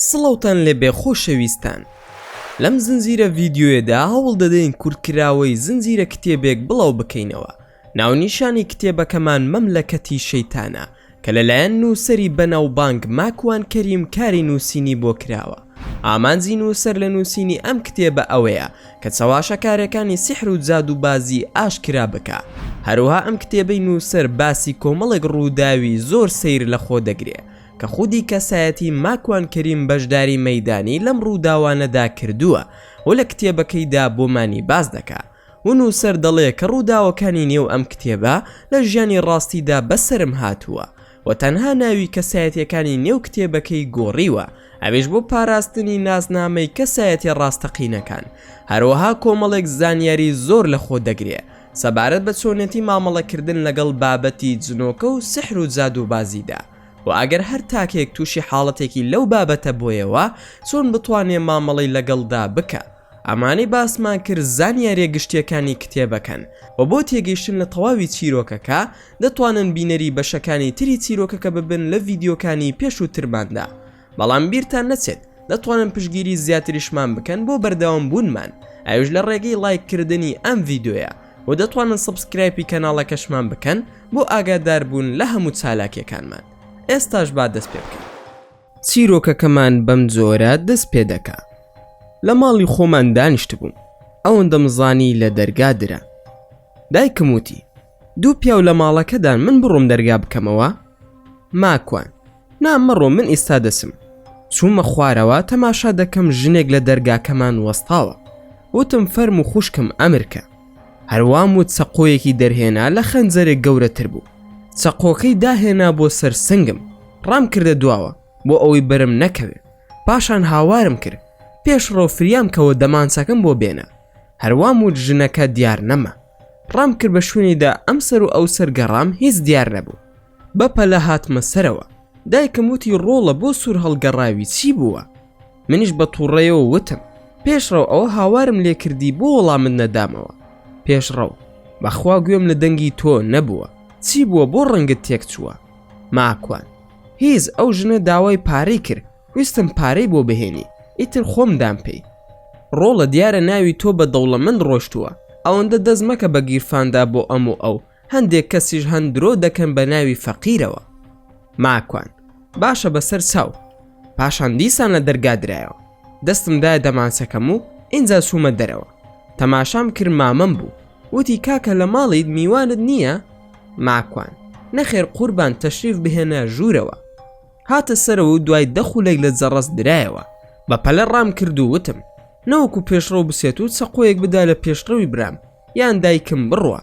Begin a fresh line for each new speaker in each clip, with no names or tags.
سڵاوتان لێبێ خۆشەویستان لەم زنجیرە ڤیدیۆیەدا هەوڵ دەدەین کورتکراوەی زنجیرە کتێبێک بڵاو بکەینەوە ناونیشانی کتێبەکەمان مەملەکەتی شەیتانە کە لەلایەن نووسەری بەناوبانگ ماکوان کەریم کاری نووسینی بۆ کراوە. ئامانجی نووسەر لە نووسینی ئەم کتێبە ئەوەیە کە چەواشەکارێکانی سیحر و جادووبازی ئاشکرا بکا. هەروەها ئەم کتێبەی نووسەر باسی کۆمەڵێک ڕووداوی زۆر سەیر لە خۆ دەگرێ کە خودی کەسایەتی ماکوان کەریم بەشداری مەیدانی لەم ڕووداوانەدا کردووە و لە کتێبەکەیدا بۆمانی باس دەکا. و نووسەر دەڵێ کە ڕووداوەکانی نێو ئەم کتێبە لە ژیانی ڕاستیدا بەسەرم هاتووە و تەنها ناوی کەسایەتییەکانی نێو کتێبەکەی گۆڕیوە ئەویش بۆ پاراستنی ناسنامەی کەسایەتیە ڕاستەقینەکان هەروەها کۆمەڵێک زانیاری زۆر لە خۆ دەگرێ سەبارەت بە چۆنێتی مامەڵەکردن لەگەڵ بابەتی جنۆکە و سحر و جادووبازیدا و ئەگەر هەر تاکێک تووشی حاڵەتێکی لەو بابەتە بۆیەوە چۆن بتوانێ مامەڵەی لەگەڵدا بکا. ئەمانەی باسمان کرد زانیاریە گشتیەکانی کتێبەکەن وە بۆ تێگەیشتن لە تەواوی چیرۆکەکە دەتوانن بینەری بەشەکانی تری چیرۆکەکە ببن لە ڤیدیۆکانی پێشووترماندا بەڵام بیرتان نەچێت دەتوانن پشگیری زیاتریشمان بکەن بۆ بەردەوام بوونمان ئەوش لە ڕێگەی ڵایک کردنی ئەم ڤیدۆیە و دەتوانن سبسکرایپی کەناڵەکەشمان بکەن بۆ ئاگاداربوون لە هەموو چالاکیەکانمان ئێستاش با دەست پێ بکەن. چیرۆکەکەمان بەم جۆرە دەست پێ دەکا لە ماڵی خۆمان دانیشتبووم ئەوەندەم زانی لە دەرگا درا دایکم وتی دوو پیاو لە ماڵەکەدان من بڕۆم دەرگا بکەمەوە ماکوان نا مەڕۆ من ئیستا دەسم چوومە خوارەوە تەماشا دەکەم ژنێک لە دەرگاکەمان وەستاوە وتم فەرم و خوشکم ئەمرکە هەر وام وت چەقۆیەکی دەرهێنا لە خەنجەرێک گەورەتر بوو چەقۆکەی داهێنا بۆ سەر سنگم ڕام کردە دواوە بۆ ئەوەی بەرم نەکەوێ پاشان هاوارم کرد پێش ڕۆ فریام کەوە دەمانچەکەم بۆ بێنە هەروام وت ژنەکە دیار نەما ڕام کرد بە شوێنیدا ئەم سەر و ئەو سەر گەڕام هیچ دیار نەبوو بە پەلە هاتمە سەرەوە دایکم وتی ڕۆڵە بۆ سوور هەڵگەڕاوی چی بووە منیش بە تووڕەیەوە وتم پێشڕەو ئەوە هاوارم لێ کردی بۆ وەڵامت نەدامەوە پێشڕەو بەخوا گوێم لە دەنگی تۆ نەبووە چی بووە بۆ ڕەنگت تێک چووە ماکوان هیز ئەو ژنە داوای پارەی کرد ویستم پارەی بۆ بهێنی ئیتر خۆم دام پێی ڕۆڵە دیارە ناوی تۆ بە دەوڵەمەند ڕۆشتووە ئەوەندە دەست مەکە بە گیرفاندا بۆ ئەم و ئەو هەندێک کەسیش هەن درۆ دەکەن بە ناوی فەقیرەوە ماکوان باشە بەسەر چاو پاشان دیسان لە دەرگا درایەوە دەستم دایە دەمانچەکەم و ئینجا چوومە دەرەوە تەماشام کرد مامەم بوو وتی کاکە لە ماڵیت میوانت نییە ماکوان نەخێر قوربان تەشریف بهێنە ژوورەوە هاتە سەرەوە و دوای دەخولێک لە جەڕەس درایەوە بە پەلە ڕام کرد و وتم نەوەکو پێشڕەو بسێت و چەقۆیەک بدا لە پێشڕەوی برام یان دایکم بڕوا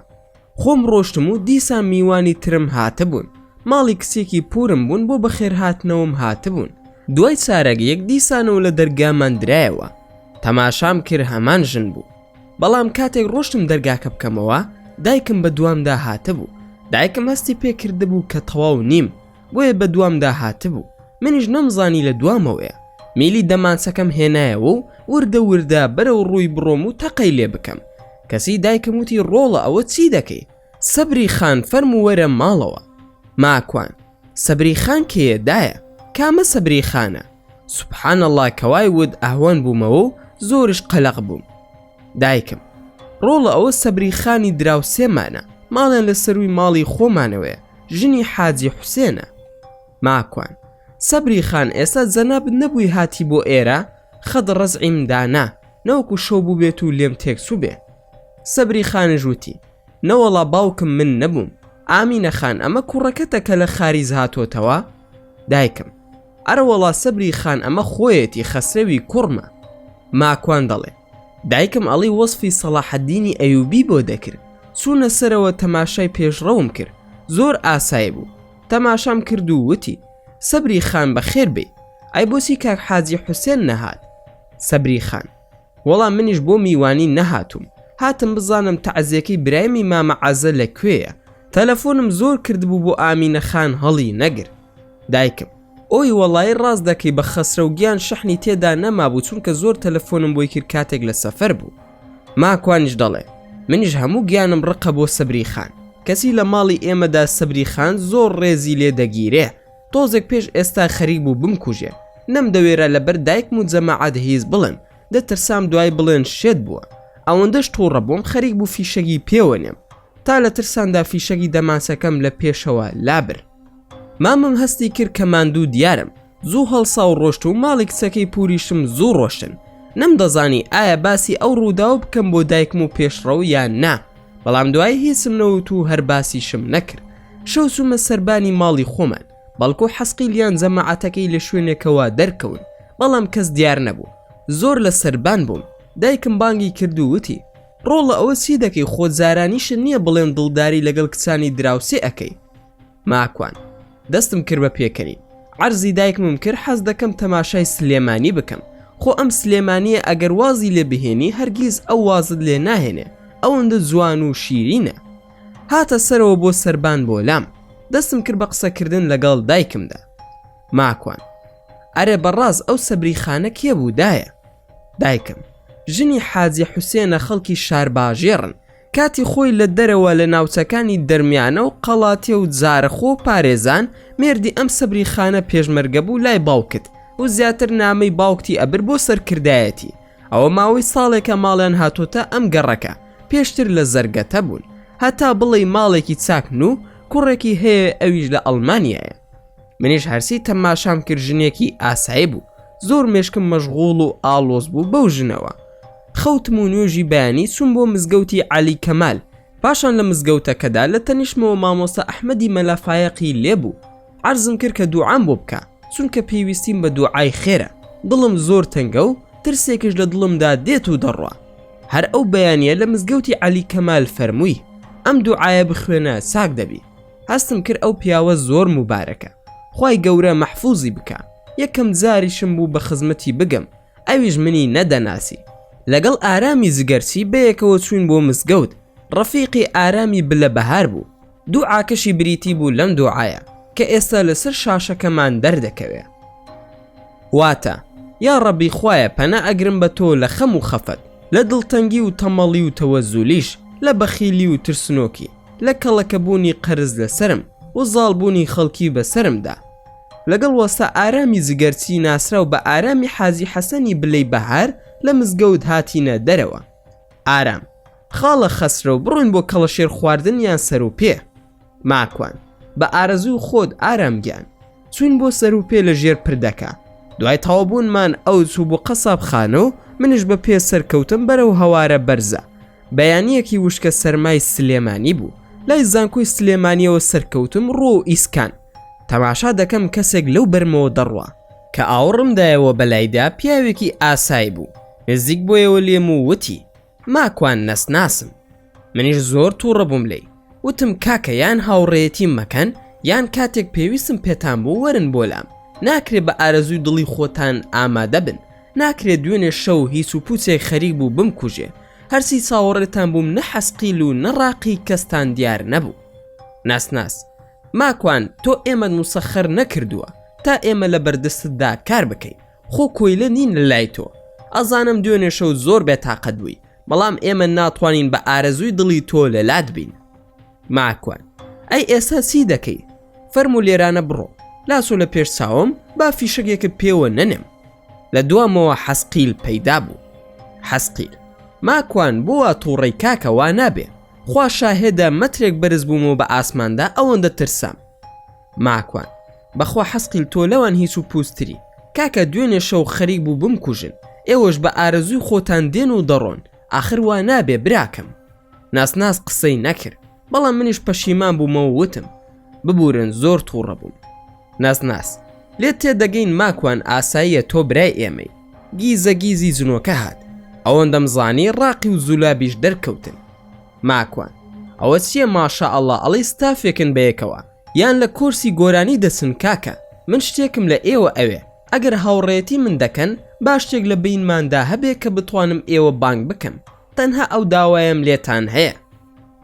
خۆم ڕۆشتم و دیسان میوانی ترم هاتبوون ماڵی کچێکی پوورم بوون بۆ بەخێرهاتنەوەم هاتبوون دوای چارەگ یەک دیسانەوە لە دەرگامان درایەوە تەماشام کرد هەمان ژن بوو بەڵام کاتێک ڕۆشتم دەرگاکە بکەمەوە دایکم بە دوامدا هاتبوو دایکم هەستی پێ کردبوو کە تەواو نیم بۆیە بەدوامدا هاتبوو منیش نەمزانی لە دوامەوەیە میلی دەمانچەکەم هێنایەوە و وردە وردە بەرەو ڕووی بڕۆم و تەقەی لێ بکەم کەسی دایکم وتی ڕۆڵە ئەوە چی دەکەی سەبری خان فەرم و وەرە ماڵەوە ماکوان سەبری خان کێیە دایە کامە سەبری خانە سبحان الله کەوای ود ئەهوەن بوومەوە و زۆرش قەلەق بووم دایکم ڕۆڵە ئەوە سەبری خانی دراوسێمانە ماڵێن لە سەروی ماڵی خۆمانەوەە ژنی حاجی حوسێنە ماکوان سەبری خان ئێستا جەناب نەبووی هاتی بۆ ئێرە خەد ڕزعیم دانا نەوەکو شەو بوو بێت و لێم تێکسو بێ سەبری خانژوتی نەوەڵا باوکم من نەبووم ئامینە خان ئەمە کوڕەکەتە کە لە خاریز هاتۆتەوە دایکم ئەرەوەڵا سەبری خان ئەمە خۆیەتی خەسرەوی کوڕمە ماکوان دەڵێ دایکم ئەڵی وەسفی سەڵاحەدینی ئەیوبی بۆ دەکرد چوونە سەرەوە تەماشای پێشڕەوم کرد زۆر ئاسای بوو تەماشام کرد و وتی سەبری خان بەخێر بێی ئای بۆچی کاک حاجی حوسێن نەهات سەبری خان وەڵا منیش بۆ میوانی نەهاتووم هاتم بزانم تەعزێکەی برایمی مامە عەزە لە کوێیە تەلەفۆنم زۆر کردبوو بۆ ئامینە خان هەڵی نەگر دایکم ئۆی وەڵایی ڕاست دەکەی بە خەسرەو گیان شەحنی تێدا نەمابوو چونکە زۆر تەلەفۆنم بۆی کرد کاتێک لە سەفەر بوو ماکوانیش دەڵێ منیش هەموو گیانم ڕقە بۆ سەبری خان کەچی لە ماڵی ئێمەدا سەبری خان زۆر ڕێزی لێ دەگیرێ تۆزێک پێش ئێستا خەریک بوو بمکوژێ نەمدەوێرا لەبەر دایکم و جەماعەت هیچ بڵێم دەترسام دوای بڵێن شێت بووە ئەوەندەش توڕە بووم خەریک بوو فیشەگی پێوە نێم تا لە ترساندا فیشەگی دەماسەکەم لە پێشەوە لابر مامم هەستی کرد کە ماندوو دیارم زوو هەڵسا و ڕۆشت و ماڵی کچەکەی پوریشم زوو ڕۆشتن نەمدەزانی ئایا باسی ئەو ڕووداو بکەم بۆ دایکم و پێشڕەو یان نا بەڵام دوای هیچم نەوت و هەر باسیشم نەکرد شەو چوومە سەربانی ماڵی خۆمان بەڵکو حەسقیل یان جەمەعاتەکەی لە شوێنێکەوە دەرکەون بەڵام کەس دیار نەبوو زۆر لە سەربان بووم دایکم بانگی کرد و وتی ڕۆڵە ئەوە چی دەکەی خۆ جارانیشە نییە بڵێن دڵداری لەگەڵ کچانی دراوسێ ئەەکەی ماکوان دەستم کرد بە پێکەنی عەرزی دایکمم کرد حەز دەکەم تەماشای سلێمانی بکەم خۆ ئەم سلێمانیە ئەگەر وازی لێ بهێنی هەرگیز ئەو وازت لێ ناهێنێ ئەوەندە جوان و شیرینە هاتە سەرەوە بۆ سەربان بۆ لام دەستم کرد بە قسەکردن لەگەڵ دایکمدا ماکوان ئەرێ بەڕاز ئەو سەبری خانە کێ بوو دایە دایکم ژنی حاجی حوسێنە خەڵکی شارباژێڕن کاتی خۆی لە دەرەوە لە ناوچەکانی دەرمیانە و قەڵاتێ و زارەخۆ و پارێزان مێردی ئەم سەبری خانە پێشمەرگە بوو لای باوکت و زیاتر نامەی باوکتی ئەبر بۆ سەرکردایەتی ئەوە ماوەی ساڵێکە ماڵیان هاتۆتە ئەم گەڕەکە پێشتر لە زەرگەتە بوون هەتا بڵێی ماڵێکی چاکن و کوڕێکی هەیە ئەویش لە ئەڵمانیایە منیش هەرسی تەماشام کرد ژنێکی ئاسایی بوو زۆر مێشکم مەشغوڵ و ئاڵۆز بوو بەو ژنەوە خەوتم و نوێژی بەیانی چوم بۆ مزگەوتی علی کەمال پاشان لە مزگەوتەکەدا لە تەنیشتمەوە مامۆستا ئەحمەدی مەلافایەقی لێبوو عەرزم کرد کە دوعام بۆ بکە چونکە پێویستیم بە دوعای خێرە دڵم زۆر تەنگە و ترسێکش لە دڵمدا دێت و دەڕوا هەر ئەو بەیانە لە مزگەوتی عەلی کەمال فەرمووی ئەم دوعاە بخوێنە چاک دەبی هەستم کرد ئەو پیاوە زۆر مبارەکە خی گەورە مەحفوزی بکە یەکەم جاریشم بوو بە خزمەتی بگەم ئەویش منی نەدەناسی لەگەڵ ئارامی زگەرچی بەیەکەوە چوین بۆ مزگەوت ڕەفیقی ئارامی بلە بەهار بوو دوعاکەشی بریتی بوو لەم دوعایە کە ئێستا لەسەر شاشەکەمان دەردەکەوێ واتە یا ڕەبی خوایە پەنا ئەگرم بە تۆ لە خەم و خەفەت لە دڵتەنگی و تەمەڵی و تەوەزولیش لە بەخیلی و ترسنۆکی لە کەڵەکەبوونی قەرز لەسەرم و زاڵبوونی خەڵکی بەسەرمدا لەگەڵ وەستا ئارامی جگەرچی ناسراو بە ئارامی حاجی حەسەنی بلەی بەهار لە مزگەوت هاتینە دەرەوە ئارام خاڵە خەسرەو بڕۆین بۆ کەڵەشێر خواردن یان سەروپێ. ماکوان، بە ئارەزووی خۆت ئارام گیان. چووین بۆ سەروپێ لە ژێر پردەکە. دوای تەواوبوونمان ئەو چوو بۆ قەسابخانە و منیش بە پێ سەرکەوتم بەرەو هەوارە بەرزە. بەیانییەکی وشکە سەرمای سلێمانی بوو. لای زانکۆی سلێمانییەوە سەرکەوتم ڕووە و ئیسکان. تەماشا دەکەم کەسێک لەو بەرمەوە دەڕوا. کە ئاوڕم دایەوە بەلایدا پیاوێکی ئاسای بوو. نزیک بۆیەوە لێم و وتی. ماکوان نەسناسم منیش زۆر توڕە بووم لێی وتم کاکە یان هاوڕێتیم مەکەن یان کاتێک پێویستم پێتان بوو وەرن بۆ لام ناکرێ بە ئارەزووی دڵی خۆتان ئامادە بن ناکرێت دوێنێ شەو هیچ و پوچێک خەریک بوو بم کوژێ هەرسی چاوەڕێتان بووم نە حەسقیل و نەڕاقی کەستان دیار نەبوو ناسناس ماکوان تۆ ئێمە نووسەخەر نەکردووە تا ئێمە لە بەردستدا کار بکەین خۆ کۆیلە نین لە لای تۆ ئەزانم دوێنێ شەو زۆر بێ تاقەت بووی بەڵام ئێمە ناتوانین بە ئارەزووی دڵی تۆ لە لات بین ماکوان ئەی ئێستا چی دەکەی فەرمو لێرانە بڕۆ لاسۆ لە پێش چاوم با فیشەکێکە پێوە نەنێم لە دوامەوە حەسقیل پەیدا بوو حەسقیل ماکوان بووە تووڕی کاکە وا نابێ خوا شاهێدە مەترێک بەرز بوومەوە بە ئاسماندا ئەوەندە ترسام ماکوان بەخوا حەسقیم تۆ لەوان هیچ و پوستری کاکە دوێنێ شەو خەریک بوو بم کوژن ئێوەش بە ئارەزووی خۆتان دێن و دەڕۆن ئاخر وا نابێ براکەم ناسناس قسەی نەکرد بەڵام منیش پەشیمان بوومەوە وتم ببورن زۆر تووڕە بووم ناسناس لێ تێدەگەین ماکوان ئاساییە تۆ برای ئێمەی گیزە گیزی جنۆکە هات ئەوەندەم زانی ڕاقی و زولابیش دەرکەوتن ماکوان ئەوە چیە ماشاء اللە ئەڵێی ستافێکن بەیەکەوە یان لە کۆرسی گۆرانی دەچن کاکە من شتێکم لە ئێوە ئەوێ ئەگەر هاوڕێیەتی من دەکەن با شتێک لە بەینماندا هەبێ کە بتوانم ئێوە بانگ بکەم تەنها ئەو داوایەم لێتان هەیە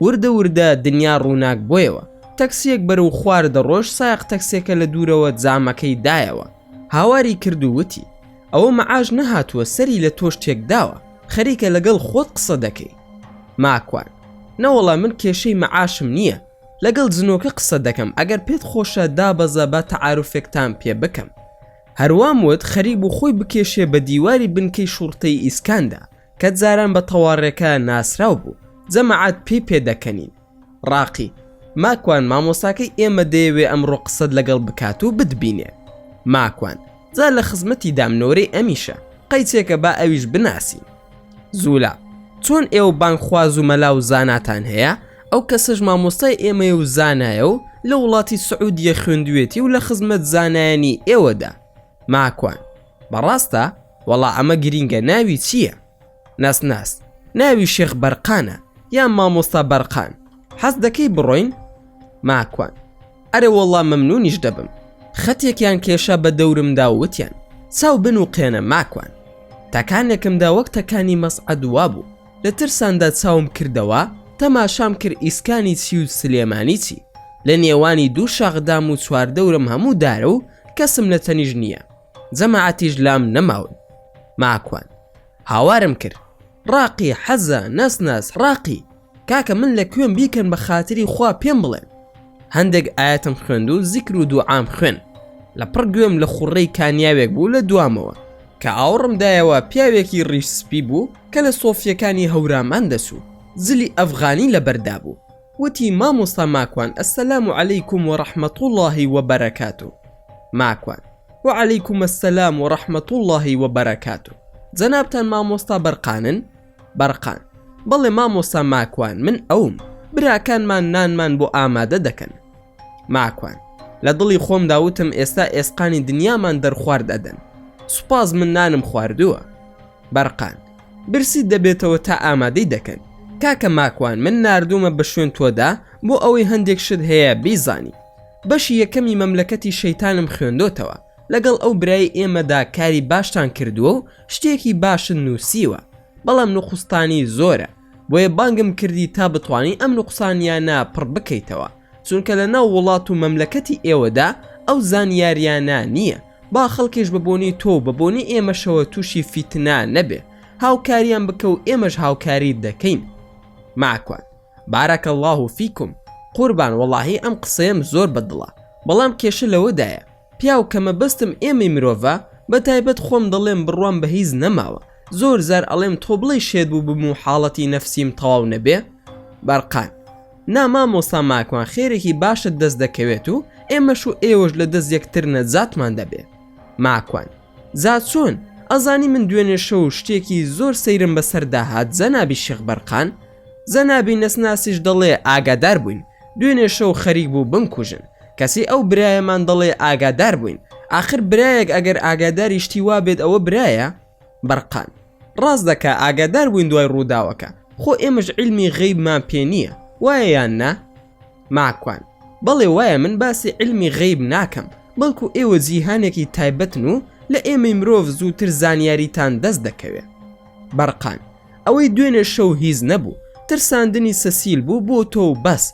وردە وردە دنیا ڕووناک بۆیەوە تەکسیەک بەرەو خوار دەڕۆشت سایەق تەکسێکە لە دوورەوە جامەکەی دایەوە هاواری کرد و وتی ئەوە مەعاش نەهاتووە سەری لە تۆش تێکداوە خەریکە لەگەڵ خۆت قسە دەکەی ماکوان، نەوەڵا من کێشەی مەعاشم نییە، لەگەڵ جنۆکە قسە دەکەم، ئەگەر پێت خۆشە دابەزە با تەعاروفێکتان پێ بکەم. هەر وام وت خەریک بوو خۆی بکێشێ بە دیواری بنکەی شوڕتەی ئیسکاندا کە جاران بە تەوارێکە ناسراو بوو، جەماعەت پێی پێ دەکەنین. ڕاقی، ماکوان مامۆستاکەی ئێمە دەیەوێ ئەمڕۆ قسەت لەگەڵ بکات و بتبینێ. ماکوان، جا لە خزمەتی دام نۆرەی ئەمیشە، قەیچێکە با ئەویش بناسین. زولا، چۆن ئێوە بانگخواز و مەلا و زاناتان هەیە، ئەو کەسەش مامۆستای ئێمەیە و زانایە و لە وڵاتی سعودیە خوێندوویەتی و لە خزمەت زانایانی ئێوەدا. ماکوان، بەڕاستە؟ وەڵا ئەمە گرینگە ناوی چییە؟ ناسناس ناوی شێخ بەرقانە یان مامۆستا بەرقان حەز دەکەی بڕۆین ماکوان ئەرێ وەڵام مەمنونیش دەبم خەتێکیان کێشا بە دەورمدا وتیان چاو بن و قێنە ماکوان تاکانێکمدا وەک تەکانی مەسعدوا بوو لە ترساندا چاوم کردەوە تەماشام کرد ئیسکانی چی و سلێمانی چی لە نێوانی دوو شاخدام و چواردەورم هەموو دارە و کەسم لە تەنیش نییە جەماعەتیش لام نەماون ماکوان هاوارم کرد ڕاقی حەزە نەسناس ڕاقی کاکە من لە کوێم بیکەن بە خاتری خوا پێم بڵێن هەندێک ئاەتم خوێند و زیکر و دوعام خوێن لە پڕ گوێم لە خوڕەی کانیاوێک بوو لە دوامەوە کە ئاوڕم دایەوە پیاوێکی ڕیش سپی بوو کە لە سۆفیەکانی هەورامان دەچوو زلی ئەفغانی لە بەردا بوو وتی مامۆستا ماکوان السلام علیکم و رحمە اللە و بەرەکاتو ماکوان، وعلیکم السلام و رحمە اللە و بەرەکاتو جەنابتان مامۆستا بەرقانن؟ بەرقان، بەڵێ مامۆستا ماکوان من ئەوم براکانمان نانمان بۆ ئامادە دەکەن ماکوان، لە دڵی خۆمدا وتم ئێستا ئێسقانی دنیامان دەرخوارد ئەدەن سوپاس من نانم خواردوە بەرقان، برسیت دەبێتەوە تا ئامادەی دەکەن. کاکە ماکوان من ناردوومە بە شوێن تۆدا بۆ ئەوەی هەندێک شت هەیە بیزانی. بەشی یەکەمی مەملەکەتی شەیتانم خوێندۆتەوە، لەگەڵ ئەو برای ئێمەدا کاری باشتان کردووە و شتێکی باشت نووسیوە، بەڵام نوقوستانی زۆرە، بۆیە بانگم کردی تا بتوانی ئەم نوقسانیانە پڕ بکەیتەوە. چونکە لە ناو وڵات و مەملەکەتی ئێوەدا ئەو زانیاریانە نییە با خەڵکیش بە بۆنی تۆ و بە بۆنی ئێمەشەوە تووشی فیتنا نەبێ هاوکاریان بکە و ئێمەش هاوکاریت دەکەین ماکوان بارەکە اللە و فیکم قوربان وەڵاهی ئەم قسەیەم زۆر بە دڵە بەڵام کێشە لەوەدایە پیاو کە مەبەستم ئێمەی مرۆڤە بەتایبەت خۆم دەڵێم بڕوام بە هیچ نەماوە زۆر جار ئەڵێم تۆ بڵێی شێت بووبم و حاڵەتی نەفسیم تەواو نەبێ؟ بەرقان، نا مامۆستا ماکوان خێرێکی باشت دەست دەکەوێت و ئێمەش و ئێوەش لە دەست یەکتر نەجاتمان دەبێ. ماکوان. جا چۆن ئەزانی من دوێنێ شەو شتێکی زۆر سەیرم بەسەر داهات جەنابی شێخ بەرقان؟ جەنابی نەسناسیش دەڵێ ئاگادار بووین دوێنێ شەو خەریک بوو بمکوژن کەچی ئەو برایەمان دەڵێ ئاگادار بووین ئاخر برایەک ئەگەر ئاگاداری شتی وا بێت ئەوە برایە؟ بەرقان ڕاست دەکا ئاگادار بووین دوای ڕووداوەکە خۆ ئێمەش عیلمی غەیبمان پێ نییە وایە یان نا؟ ماکوان، بەڵێ وایە من باسی عیلمی غەیب ناکەم بەڵکو ئێوە جیهانێکی تایبەتن و لە ئێمەی مرۆڤ زووتر زانیاریتان دەست دەکەوێ. بەرقان، ئەوەی دوێنێ شەو هیچ نەبوو ترساندنی سەسیل بوو بۆ تۆ و بەس،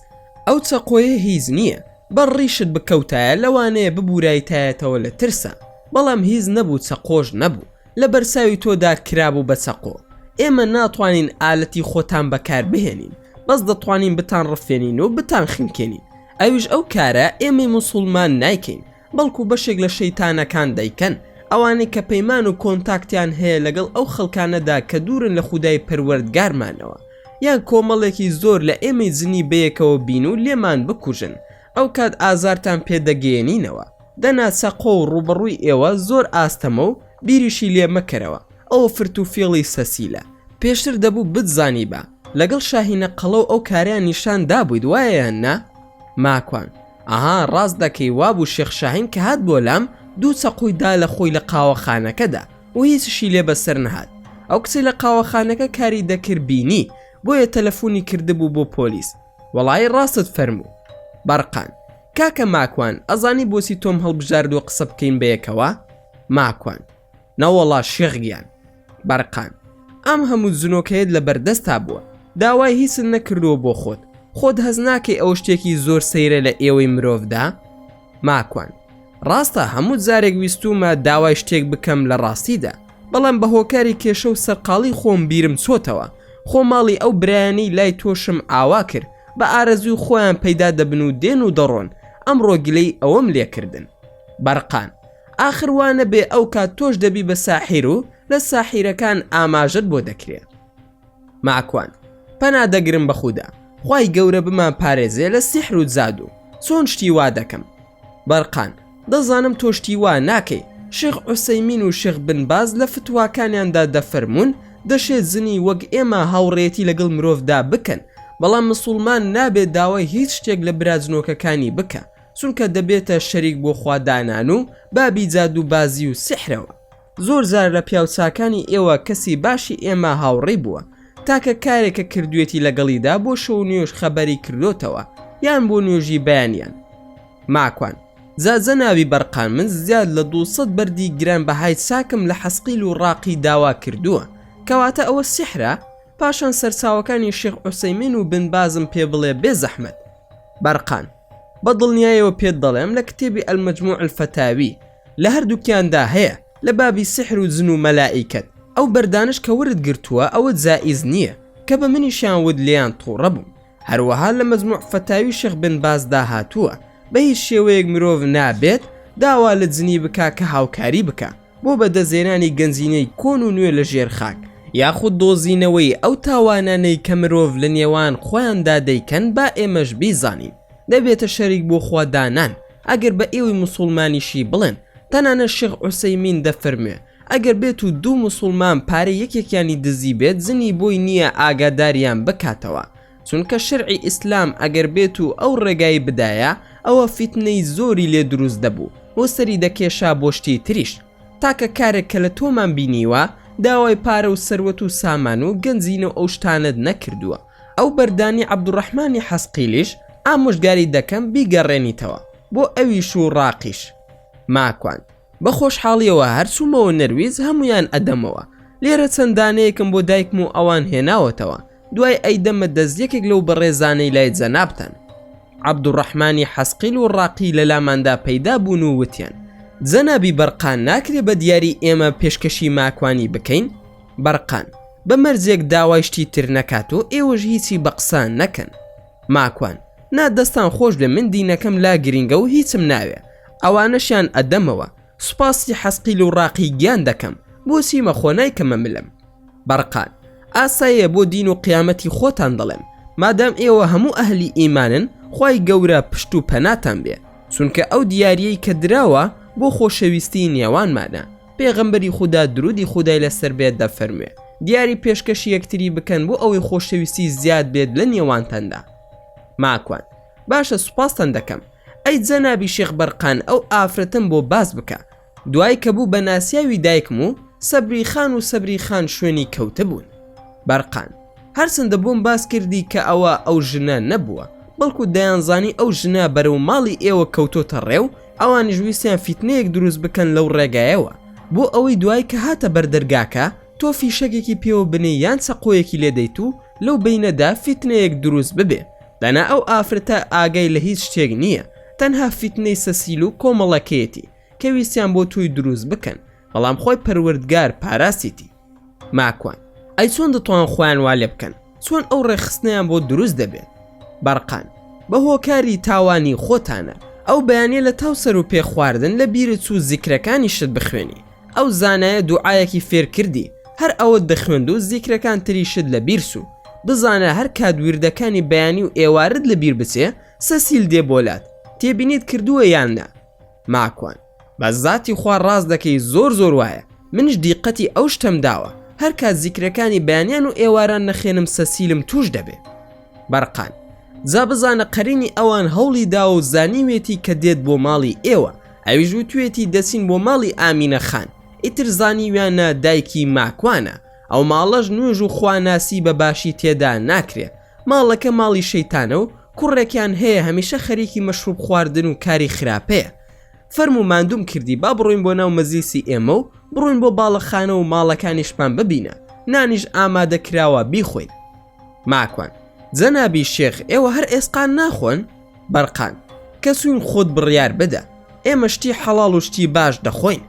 ئەو چەقۆیە هیچ نییە بەر ڕیشت بکەوتایە لەوانەیە ببورایتایەتەوە لە ترسا بەڵام هیچ نەبوو چەقۆش نەبوو، لە بەرچاوی تۆدا کرابوو بە چەقۆ ئێمە ناتوانین ئالەتی خۆتان بەکار بهێنین بەس دەتوانین بتان ڕفێنین و بتان خنکێنین ئەویش ئەو کارە ئێمەی موسوڵمان نایکەین بەڵکو بەشێک لە شەیتانەکان دەیکەن ئەوانەی کە پەیمان و کۆنتاکتیان هەیە لەگەڵ ئەو خەڵکانەدا کە دوورن لە خودای پەروەردگارمانەوە یان کۆمەڵێکی زۆر لە ئێمەی جنی بەیەکەوە بین و لێمان بکوژن ئەوکات ئازارتان پێ دەگەیەنینەوە دەنا چەقۆ و ڕووبەڕووی ئێوە زۆر ئاستەمە و بیریشی لێ مەکەرەوە ئەوە فرت و فێڵی سەسیلە پێشتر دەبوو بتزانیبا لەگەڵ شاهینە قەڵە و ئەو کارەیان نیشان دابوویت وایە یان نا؟ ماکوان، ئەها ڕاست دەکەی وابوو شێخ شاهین کە هات بۆ لام دوو چەقۆی دا لە خۆی لە قاوەخانەکەدا و هیچیشی لێ بەسەر نەهات ئەو کچەی لە قاوەخانەکە کاری دەکرد بینی بۆیە تەلەفونی کردبوو بۆ پۆلیس وەڵایی ڕاستت فەرموو بەڕقان. کاکە ماکوان ئەزانی بۆچی تۆم هەڵبژاردووە قسە بکەین بەیەکەوە؟ ماکوان. نەوەڵا شێخ گیان. بەڕقان. ئەم هەموو جنۆکەیەت لەبەردەستتا بووە داوای هیچت نەکردووە بۆ خۆت، خۆت هەست ناکەی ئەوە شتێکی زۆر سەیرە لە ئێوەی مرۆڤدا؟ ماکوان، ڕاستە هەموو جارێک ویستوومە داوای شتێک بکەم لە ڕاستیدا، بەڵام بە هۆکاری کێشە و سەرقاڵی خۆم بیرم چۆتەوە، خۆ ماڵی ئەو برایانەی لای تۆشم ئاوا کرد، بە ئارەزووی خۆیان پەیدا دەبن و دێن و دەڕۆن، ئەمڕۆ گلەی ئەوەم لێ کردن. بەرقان، ئاخر وا نەبێ ئەو کات تۆش دەبی بە ساحیر و لە ساحیرەکان ئاماژەت بۆ دەکرێ. ماکوان پەنا دەگرم بە خودا خوای گەورە بمان پارێزێ لە سیحر و زادو چۆن شتی وا دەکەم بەرقان دەزانم تۆ شتی وا ناکەی شێخ عوسەیمین و شێخ بن باز لە فتواکانیاندا دەفەرموون دەشێ جنی وەک ئێمە هاوڕێیەتی لەگەڵ مرۆڤدا بکەن بەڵام مسوڵمان نابێ داوای هیچ شتێک لە برا جنۆکەکانی بکا چونکە دەبێتە شەریک بۆ خوا دانان و بابی جادووبازی و سیحرەوە زۆر جار لە پیاو چاکانی ئێوە کەسی باشی ئێمە هاوڕی بووە تاکە کارێکە کردوێتی لەگەڵیدا بۆ شەو نوێژ خەبەری کردۆتەوە یان بۆ نوێژی بەیانیان ماکوان زازە ناوی بەرقان من زیاد لە دو سەد بەردی گران بەهای چاکم لە حەسقیل و ڕاقی داوا کردووە کەواتە ئەوە سیحرە پاشان سەرچاوەکانی شێخ عوسەیمین و بن بازم پێ بڵێ بێ زەحمەت بەرقان بە دڵنیایەوە پێت دەڵێم لە کتێبی المەجموع الفتاوی لە هەردووکیاندا هەیە لە بابی سحر و جن و مەلائیکەت ئەو بەردانەش کە ورد گرتووە ئەوە جائیز نییە کە بە منیشیان وت لێیان توڕە بووم هەروەها لە مەجموع فتاوی شێخ بن باز دا هاتووە بە هیچ شێوەیەک مرۆڤ نابێت داوا لە جنی بکا کە هاوکاری بکا بۆ بەدەستێنانی گەنجینەی کۆن و نوێ لە ژێر خاک یاخود دۆزینەوەی ئەو تاوانانەی کە مرۆڤ لە نێوان خۆیاندا دەیکەن با ئێمەش بیزانین دەبێتە شەریک بۆ خوا دانان ئەگەر بە ئێوەی موسوڵمانیشی بڵێن تەنانەت شێخ عوسەیمین دەفەرموێ ئەگەر بێت و دوو موسوڵمان پارەی یەکێکیانی دزیبێت زنی بۆی نییە ئاگاداریان بکاتەوە چونکە شەرعی ئیسلام ئەگەر بێت و ئەو ڕێگای بدایە ئەوە فیتنەی زۆری لێ دروست دەبوو و سەری دەکێشا بۆ شتی تریش تاکە کارێک کە لە تۆمان بینیوە داوای پارە و سەروەت و سامان و گەنجینە و ئەو شتانەت نەکردووە. ئەو بەردانی عەبدوڕەحمانی حەسقیلیش ئامۆژگاری دەکەم بیگەڕێنیتەوە بۆ ئەویش و ڕاقیش. ماکوان، بە خۆشحاڵیەوە هەر چوومەوە نەرویج هەموویان ئەدەمەوە، لێرە چەند دانەیەکم بۆ دایکم و ئەوان هێناوەتەوە، دوای ئەیدەمە دەست یەکێک لەو بەڕێزانەی لای جەنابتان. عەبدوڕەحمانی حەسقیل و ڕاقی لە لاماندا پەیدا بوون و وتیان، جەنابی بەرقان ناکرێ بە دیاری ئێمە پێشکەشی ماکوانی بکەین؟ بەرقان، بە مەرجێک داوای شتی تر نەکات و ئێوەش هیچی بە قسە نەکەن. ماکوان، نا دەستان خۆش بێ من دینەکەم لا گرینگە و هیچم ناوێ، ئەوانەشیان ئەدەمەوە، سوپاسی حەسقیل و ڕاقی گیان دەکەم، بۆچی مەخۆ نایکەمە ملم. بەرقان، ئاساییە بۆ دین و قیامەتی خۆتان دەڵێم، مادام ئێوە هەموو ئەهلی ئیمانن خوای گەورە پشت و پەناتان بێ، چونکە ئەو دیاریەی کە دراوە بۆ خۆشەویستی نێوانمانە. پێغەمبەری خودا درودی خودای لەسەر بێت دەفەرموێ دیاری پێشکەشی یەکتری بکەن بۆ ئەوەی خۆشەویستی زیاد بێت لە نێوانتاندا ماکوان باشە سوپاستان دەکەم ئەی جەنابی شێخ بەرقان ئەو ئافرەتەم بۆ باس بکە دوای کە بوو بە ناسیاوی دایکم و سەبری خان و سەبری خان شوێنی کەوتبوون بەرقان هەرچەندە بۆم باس کردی کە ئەوە ئەو ژنە نەبووە بەڵکو دەیانزانی ئەو ژنە بەرەو ماڵی ئێوە کەوتۆتە ڕێ و ئەوانیش ویستیان فیتنەیەک دروست بکەن لەو ڕێگایەوە بۆ ئەوەی دوای کە هاتە بەر دەرگاکە تۆ فیشەکێکی پێوە بنێی یان چەقۆیەکی لێ دەیت و لەو بەینەدا فیتنەیەک دروست ببێ دەنا ئەو ئافرەتە ئاگای لە هیچ شتێک نییە تەنها فیتنەی سەسیل و کۆمەڵەکەیەتی کە ویستیان بۆ تۆی دروست بکەن بەڵام خۆی پەروەردگار پاراستیتی ماکوان، ئەی چۆن دەتوان خۆیان وا لێ بکەن؟ چۆن ئەو ڕێکخستنەیان بۆ دروست دەبێت؟ بەرقان، بە هۆکاری تاوانی خۆتانە. ئەو بەیانیە لە تاو سەرو پێ خواردن لە بیرت چوو زیکرەکانیشت بخوێنی؟ ئەو زانایە دوعایەکی فێر کردی هەر ئەوەت دەخوێند و زیکرەکان تریشت لە بیر چوو. بزانە هەر کات ویردەکانی بەیانی و ئێوارت لە بیر بچێ سەسیل دێ بۆ لات تێبینیت کردووە یان نا؟ ماکوان، بە زاتی خوا ڕاست دەکەی زۆر زۆر وایە منش دیقەتی ئەو شتەم داوە هەر کات زیکرەکانی بەیانیان و ئێواران نەخێنم سەسیلم توش دەبێ بەرقان جا بزانە قەرینی ئەوان هەوڵی داوە و زانیوێتی کە دێت بۆ ماڵی ئێوە ئەویش وتوێتی دەچین بۆ ماڵی ئامینە خان ئیتر زانیویانە دایکی ماکوانە ئەو ماڵەش نوێژ و خواناسی بە باشی تێدا ناکرێ ماڵەکە ماڵی شەیتانە و کوڕێکیان هەیە هەمیشە خەریکی مەشروب خواردن و کاری خراپەیە فەرموو ماندووم کردی با بڕۆین بۆ ناو مەزلیسی ئێمە و بڕۆین بۆ باڵەخانە و ماڵەکانیشمان ببینە نانیش ئامادە کراوە بیخۆین ماکوان جەنابی شێخ ئێوە هەر ئێسقان ناخۆن بەرقان کە چوین خۆت بڕیار بدە ئێمە شتی حەڵاڵ و شتی باش دەخۆین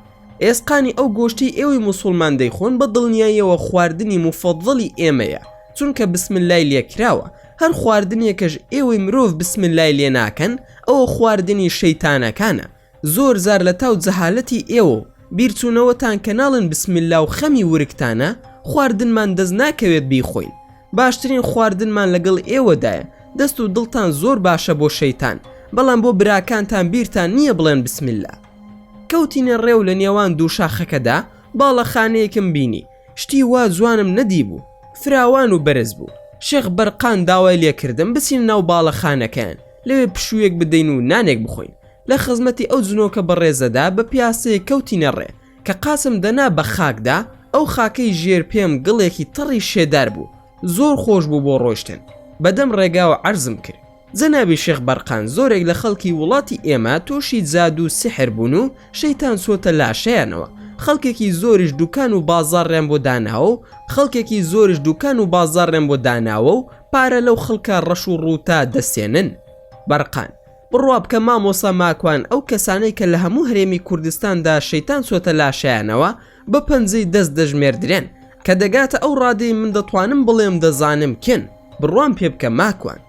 ئێسقانی ئەو گۆشتەی ئێوەی موسوڵمان دەیخۆن بە دڵنیاییەوە خواردنی موفەضڵی ئێمەیە چونکە بسم اللەی لێ کراوە هەر خواردنێکەش ئێوەی مرۆڤ بسم اللەی لێ ناکەن ئەوە خواردنی شەیتانەکانە زۆر جار لە تاو جەهالەتی ئێوە و بیرچونەوەتان کە ناڵێن بسم اللە و خەمی ورگتانە خواردنمان دەست ناکەوێت بیخۆین باشترین خواردنمان لەگەڵ ئێوەدایە دەست و دڵتان زۆر باشە بۆ شەیتان بەڵام بۆ براکانتان بیرتان نییە بڵێن بسم اللە. کەوتینە ڕێ و لە نێوان دوو شاخەکەدا باڵەخانەیەکم بینی شتی وا جوانم نەدیبوو فراوان و بەرز بوو شێخ بەرقان داوای لێکردم بچین ناو باڵەخانەکەیان لەوێ پشوویەک بدەین و نانێک بخۆین لە خزمەتی ئەو جنۆکە بەڕێزەدا بە پیاسەیە کەوتینە ڕێ کە قاچم دەنا بە خاکدا ئەو خاکەی ژێر پێم گڵێکی تەڕی شێدار بوو زۆر خۆش بوو بۆ ڕۆشتن بەدەم ڕێگاوە عەرزم کرد جەنابی شێخ بەرقان زۆرێک لە خەڵکی وڵاتی ئێمە تۆشی جادو و سیحر بوون و شەیتان چۆتە لاشەیانەوە خەڵکێکی زۆریش دوکان و بازاڕیان بۆ داناوە و خەڵکێکی زۆریش دوکان و بازاڕیان بۆ داناوە و پارە لەو خەڵکە ڕەش و ڕووتە دەستێنن بەرقان بڕوا بکە مامۆسا ماکوان ئەو کەسانەی کە لە هەموو هەرێمی کوردستاندا شەیتان چۆتە لاشەیانەوە بە پەنجەی دەست دەژمێردرێن کە دەگاتە ئەو ڕادەی من دەتوانم بڵێم دەزانم کێن بڕوام پێ بکە ماکوان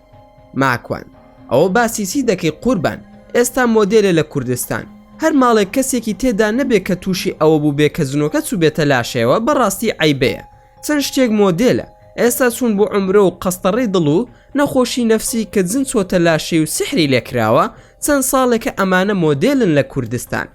ماکوان ئەوە باسی چی دەکەی قوربان ئێستا مۆدێلە لە کوردستان هەر ماڵێک کەسێکی تێدا نەبێ کە تووشی ئەوە بوو بێ کە جنۆکە چوو بێتە لاشەیەوە بەڕاستی عیبەیە چەند شتێک مۆدێلە ئێستا چوون بۆ عمرە و قەستەڕی دڵ و نەخۆشی نەفسی کە جن چۆتە لاشەی و سحری لێکراوە چەند ساڵێکە ئەمانە مۆدێلن لە کوردستان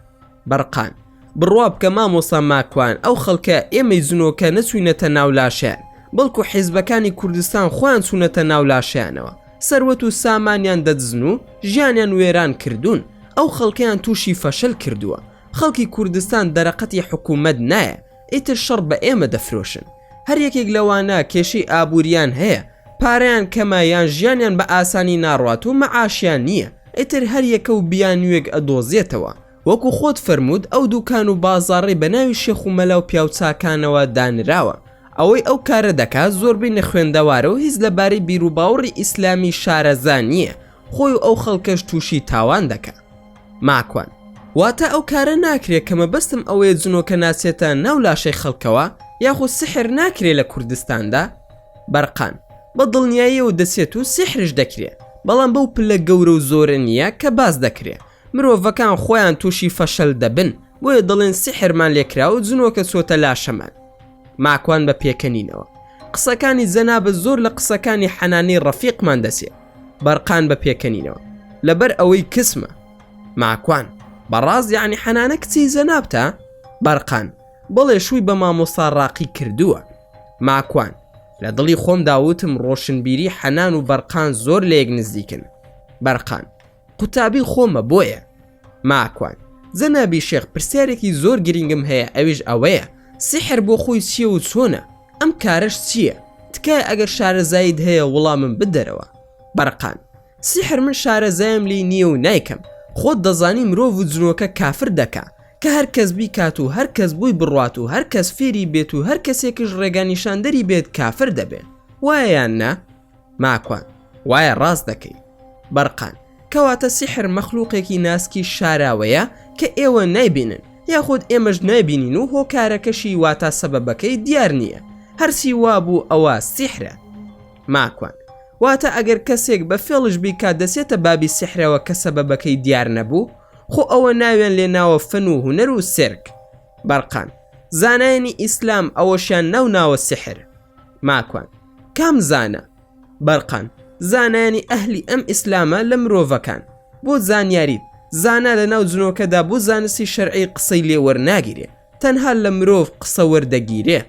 بەرقان. بڕوا بکە مامۆستا ماکوان ئەو خەڵکە ئێمەی زنۆکە نەچوینەتە ناو لاشەیان بەڵکو حیزبەکانی کوردستان خۆیان چونەتە ناو لاشەیانەوە سەروەت و سامانیان دەدزن و ژیانیان وێران کردون ئەو خەڵکەیان توشی فەشەل کردوە خەڵکی کوردستان دەرەقەتی حکومەت نایە ئیتر شەڕ بە ئێمە دەفرۆشن. هەر یەکێک لەوانە کێشەی ئابوورییان هەیە، پارەیان کەمە یان ژیانیان بە ئاسانی ناڕوات و مەعاشیان نییە، ئیتر هەر یەکە و بیانوویەک ئەدۆزێتەوە. وەکو خۆت فەرمووت ئەو دووکان و بازاڕەی بە ناوی شێخ و مەلا و پیاوچاکانەوە دانراوە، ئەوەی ئەو کارە دەکات زۆربەی نەخوێندەوارە و هیچ لەبارەی بیروباوڕی ئیسلامی شارەزا نییە خۆی و ئەو خەڵکەش تووشی تاوان دەکا ماکوان واتە ئەو کارە ناکرێ کە مەبەستم ئەوەیە جنۆکە ناچێتە ناو لاشەی خەڵکەوە یاخود سحر ناکرێ لە کوردستاندا بەرقان بە دڵنیاییەوە دەچێت و سحرش دەکرێ بەڵام بەو پلە گەورە و زۆرە نییە کە باس دەکرێ مرۆڤەکان خۆیان تووشی فەشەل دەبن بۆیە دەڵێن سحرمان لێکرا و جنۆکە چۆتە لاشەمان ماکوان بە پێکەنینەوە قسەکانی جەنابە زۆر لە قسەکانی حەنانی ڕەفیقمان دەچێت بەرقان بە پێکەنینەوە لەبەر ئەوەی کسمە ماکوان بەڕاز یعنی حەنانە کچی زەنابتە بەرقان بڵێ شووی بە مامۆستا ڕاقی کردووە ماکوان لە دڵی خۆم داوتم ڕۆشنبیری حەنان و بەرقان زۆر لە یەک نزیکن بەرقان قوتابی خۆمە بۆیە ماکوان. جەنابی شێخ پرسیارێکی زۆر گرینگم هەیە ئەویش ئەوەیە سیحر بۆ خۆی چییە و چۆنە؟ ئەم کارەش چییە؟ تکایە ئەگەر شارەزاییت هەیە وڵامم بدەرەوە. بەرقان. سیحر من شارەزایم لێی نییە و نایکەم، خۆت دەزانی مرۆڤ و جنۆکە کافر دەکا، کە هەر کەس بیکات و هەر کەس بۆی بڕوات و هەر کەس فێری بێت و هەر کەسێکش ڕێگانیشاندەری بێت کافر دەبێ. وایە یان نا؟ ماکوان، وایە ڕاست دەکەی. بەرقان، کەواتە سیحر مەخلوقێکی ناسکی شاراوەیە کە ئێوە نایبینن یاخود ئێمەش نایبینین و هۆکارەکەشی واتا سەبەبەکەی دیار نییە هەرچی وابوو ئەوە سیحرە. ماکوان، واتە ئەگەر کەسێک بە فێڵش بیکات دەچێتە بابی سیحرەوە کە سەبەبەکەی دیار نەبوو؟ خۆ ئەوە ناویان لێ ناوە فەن و هونەر و سێرک. بەرقان، زانایانی ئیسلام ئەوەشیان ناوناوە سیحر. ماکوان، کام زانا؟ بەرقان، زانایانی ئەهلی ئەم ئیسلامە لە مرۆڤەکان. بۆ زانیاریت، زانا لە ناو جنۆکەدا بۆ زانستی شەرعی قسەی لێ وەرناگیرێ، تەنها لە مرۆڤ قسە وەردەگیرێ.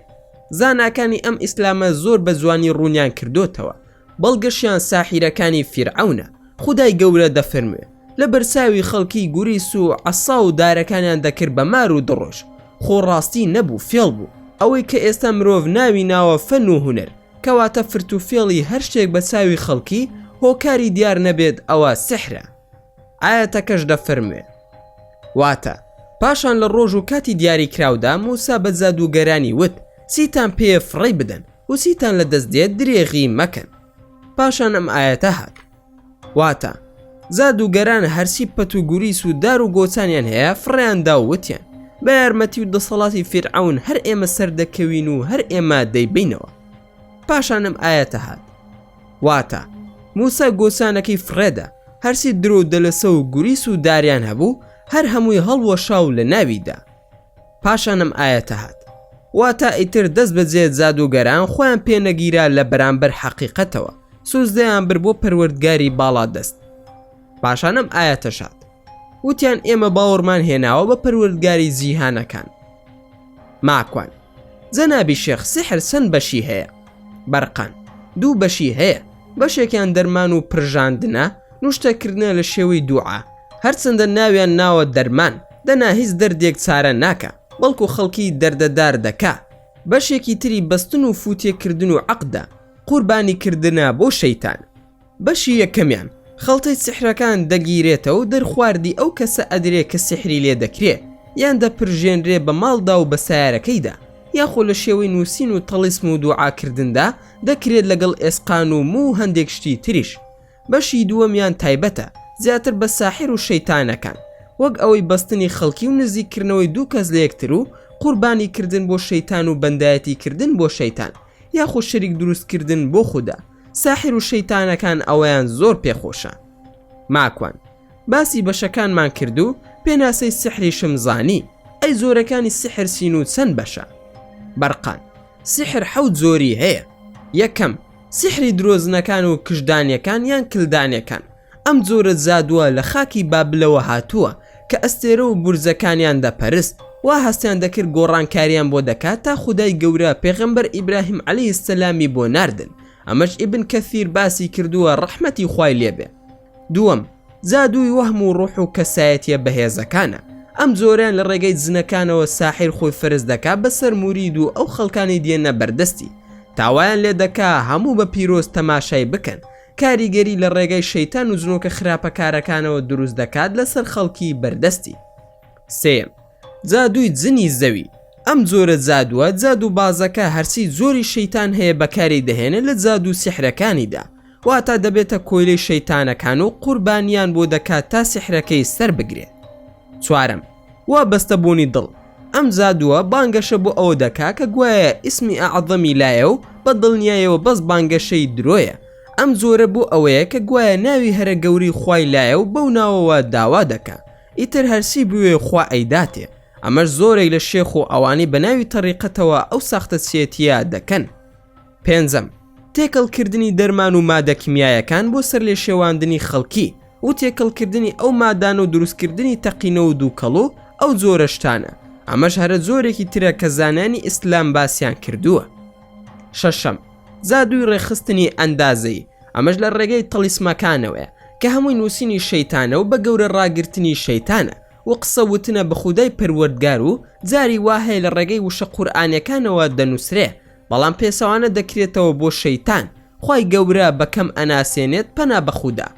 زاناکانی ئەم ئیسلامە زۆر بە جوانی ڕوونیان کردۆتەوە. بەڵگەشیان ساحیرەکانی فیرعەونە خودای گەورە دەفەرموێ لە بەرچاوی خەڵکی گوریس و عەسا و دارەکانیان دەکرد بە مار و دڕۆژ خۆ ڕاستی نەبوو فێڵ بوو ئەوەی کە ئێستا مرۆڤ ناوی ناوە فەن و هونەر کەواتە فرت و فێڵی هەر شتێک بە چاوی خەڵکی هۆکاری دیار نەبێت ئەوە سحرە ئایەتەکەش دەفەرموێ واتە پاشان لە ڕۆژ و کاتی دیاری کراودا موسا بە جادووگەرانی وت چیتان پێیە فڕێی بدەن وسیتان لە دەست دێت درێغی مەکەن پاشان ئەم ئایەتە هات واتە زادوگەران هەرسی پەت و گوریس و دار و گۆچانیان هەیە فڕیاندا وتیان بە یارمەتی و دەسەڵاتی فیرعون هەر ئێمە سەردەکەوین و هەر ئێمە دەیبینەوە پاشانم ئاەتە هات واتە موسا گۆسانەکەی فڕێدا هەرسی درۆ دەلەسە و گوریس و داریان هەبوو هەر هەمووی هەڵوەشاو لە ناویدا پاشان ئەم ئایەتە هات. واتە ئیتر دەست بەجێ جادووگەران خۆیان پێ نەگیرا لە بەرامبەر حەقیقەتەوە، سوجدەیان برد بۆ پەروەردگاری باڵادەست. پاشان ئەم ئایەتەش هات. وتیان ئێمە باوەڕمان هێناوە بە پەروەردگاری جیهانەکان. ماکوان. جەنابی شێخ سیحر چەند بەشی هەیە؟ بەرقان. دوو بەشی هەیە. بەشێکیان دەرمان و پرژاندنە، نوشتەکردنە لە شێوەی دوعا، هەرچەندە ناویان ناوە دەرمان، دەنا هیچ دەردێک چارە ناکا، بەڵکو خەڵکی دەردەدار دەکا، بەشێکی تری بەستن و فوتێکردن و عەقدە، قوربانی کردنە بۆ شەیتان. بەشی یەکەمیان، خەڵتەی سیحرەکان دەگیرێتەوە و دەرخواردی ئەو کەسە ئەدرێ کە سیحری لێ دەکرێ، یان دەپرژێنرێ بە ماڵدا و بە سایەرەکەیدا، یاخۆ لە شێوەی نووسین و تەڵیسم و دوعاکردندا دەکرێت لەگەڵ ئێسقان و موو هەندێک شتی تریش. بەشی دووەمیان تایبەتە زیاتر بە ساحیر و شەیتانەکان وەک ئەوەی بەستنی خەڵکی و نزیک کردنەوەی دوو کەس لەیەکتر و قوربانی کردن بۆ شەیتان و بەندایەتی کردن بۆ شەیتان یاخود شەریک دروست کردن بۆ خودا ساحیر و شەیتانەکان ئەوەیان زۆر پێ خۆشە ماکوان باسی بەشەکانمان کرد و پێناسەی سحریشم زانی. ئەی جۆرەکانی سیحر چین و چەند بەشە؟ بەرقان. سیحر حەوت جۆری هەیە یەکەم سیحری درۆزنەکان و کشدانیەکان یان کلدانەکان ئەم جۆرە جادووە لە خاکی بابلەوە هاتووە کە ئەستێرە و بورجەکانیان دەپەرست وا هەستیان دەکرد گۆڕانکاریان بۆ دەکات تا خودای گەورە پێغەمبەر ئیبراهیم عەلیهی سەلامی بۆ ناردن ئەمەش ئیبن کەثیر باسی کردووە ڕەحمەتی خوای لێبێ دووەم، جادووی وەهم و ڕۆح و کەسایەتیە بەهێزەکانە، ئەم جۆرەیان لە ڕێگەی جنەکانەوە ساحیر خۆی فەرز دەکا بەسەر مورید و ئەو خەڵکانەی دێنە بەردەستی تا وایان لێ دەکا هەموو بە پیرۆز تەماشای بکەن، کاریگەری لە ڕێگای شەیتان و جنۆکە خراپەکارەکانەوە دروست دەکات لەسەر خەڵکی بەردەستی. سێیەم، جادووی جنی زەوی ئەم جۆرە جادووە جادوو بازەکە هەرچی جۆری شەیتان هەیە بەکاری دەهێنێت لە جادوو سیحرەکانیدا واتا دەبێتە کۆیلەی شەیتانەکان و قوربانیان بۆ دەکات تا سیحرەکەی سەر بگرێت چوارم وا بەستە بوونی دڵ ئەم جادووە بانگەشە بۆ ئەوە دەکا کە گوایە ئیسمی ئەعظەمی لایە و بە دڵنیایەوە بەس بانگەشەی درۆیە ئەم جۆرە بۆ ئەوەیە کە گوایە ناوی هەرە گەوری خوای لایە و بەو ناوەوە داوا دەکە ئیتر هەرچی بوێ خوا ئەیداتێ. ئەمەش زۆرێک لە شێخ و ئەوانەی بە ناوی تەریقەتەوە ئەو ساختەچیەتیە دەکەن. پێنجەم، تێکەڵ کردنی دەرمان و مادە کیمیایەکان بۆ سەرلێشێواندنی خەڵکی و تێکەڵ کردنی ئەو مادانە و دروست کردنی تەقینە و دوکەڵ و ئەو جۆرە شتانە ئەمەش هەرە جۆرێکی ترە کە زانانی ئیسلام باسیان کردووە. شەشەم، جادووی ڕێکخستنی ئەندازەیی، ئەمەش لە ڕێگەی تەڵیسمەکانەوەیە، کە هەمووی نووسینی شەیتانە و بە گەورە ڕاگرتنی شەیتانە، و قسە وتنە بە خودای پەروەردگار و جاری وا هەیە لە ڕێگەی وشە قورئانیەکانەوە دەنووسرێ، بەڵام پێچەوانە دەکرێتەوە بۆ شەیتان، خوای گەورە بە کەم ئەناسێنێت پەنا بە خودا.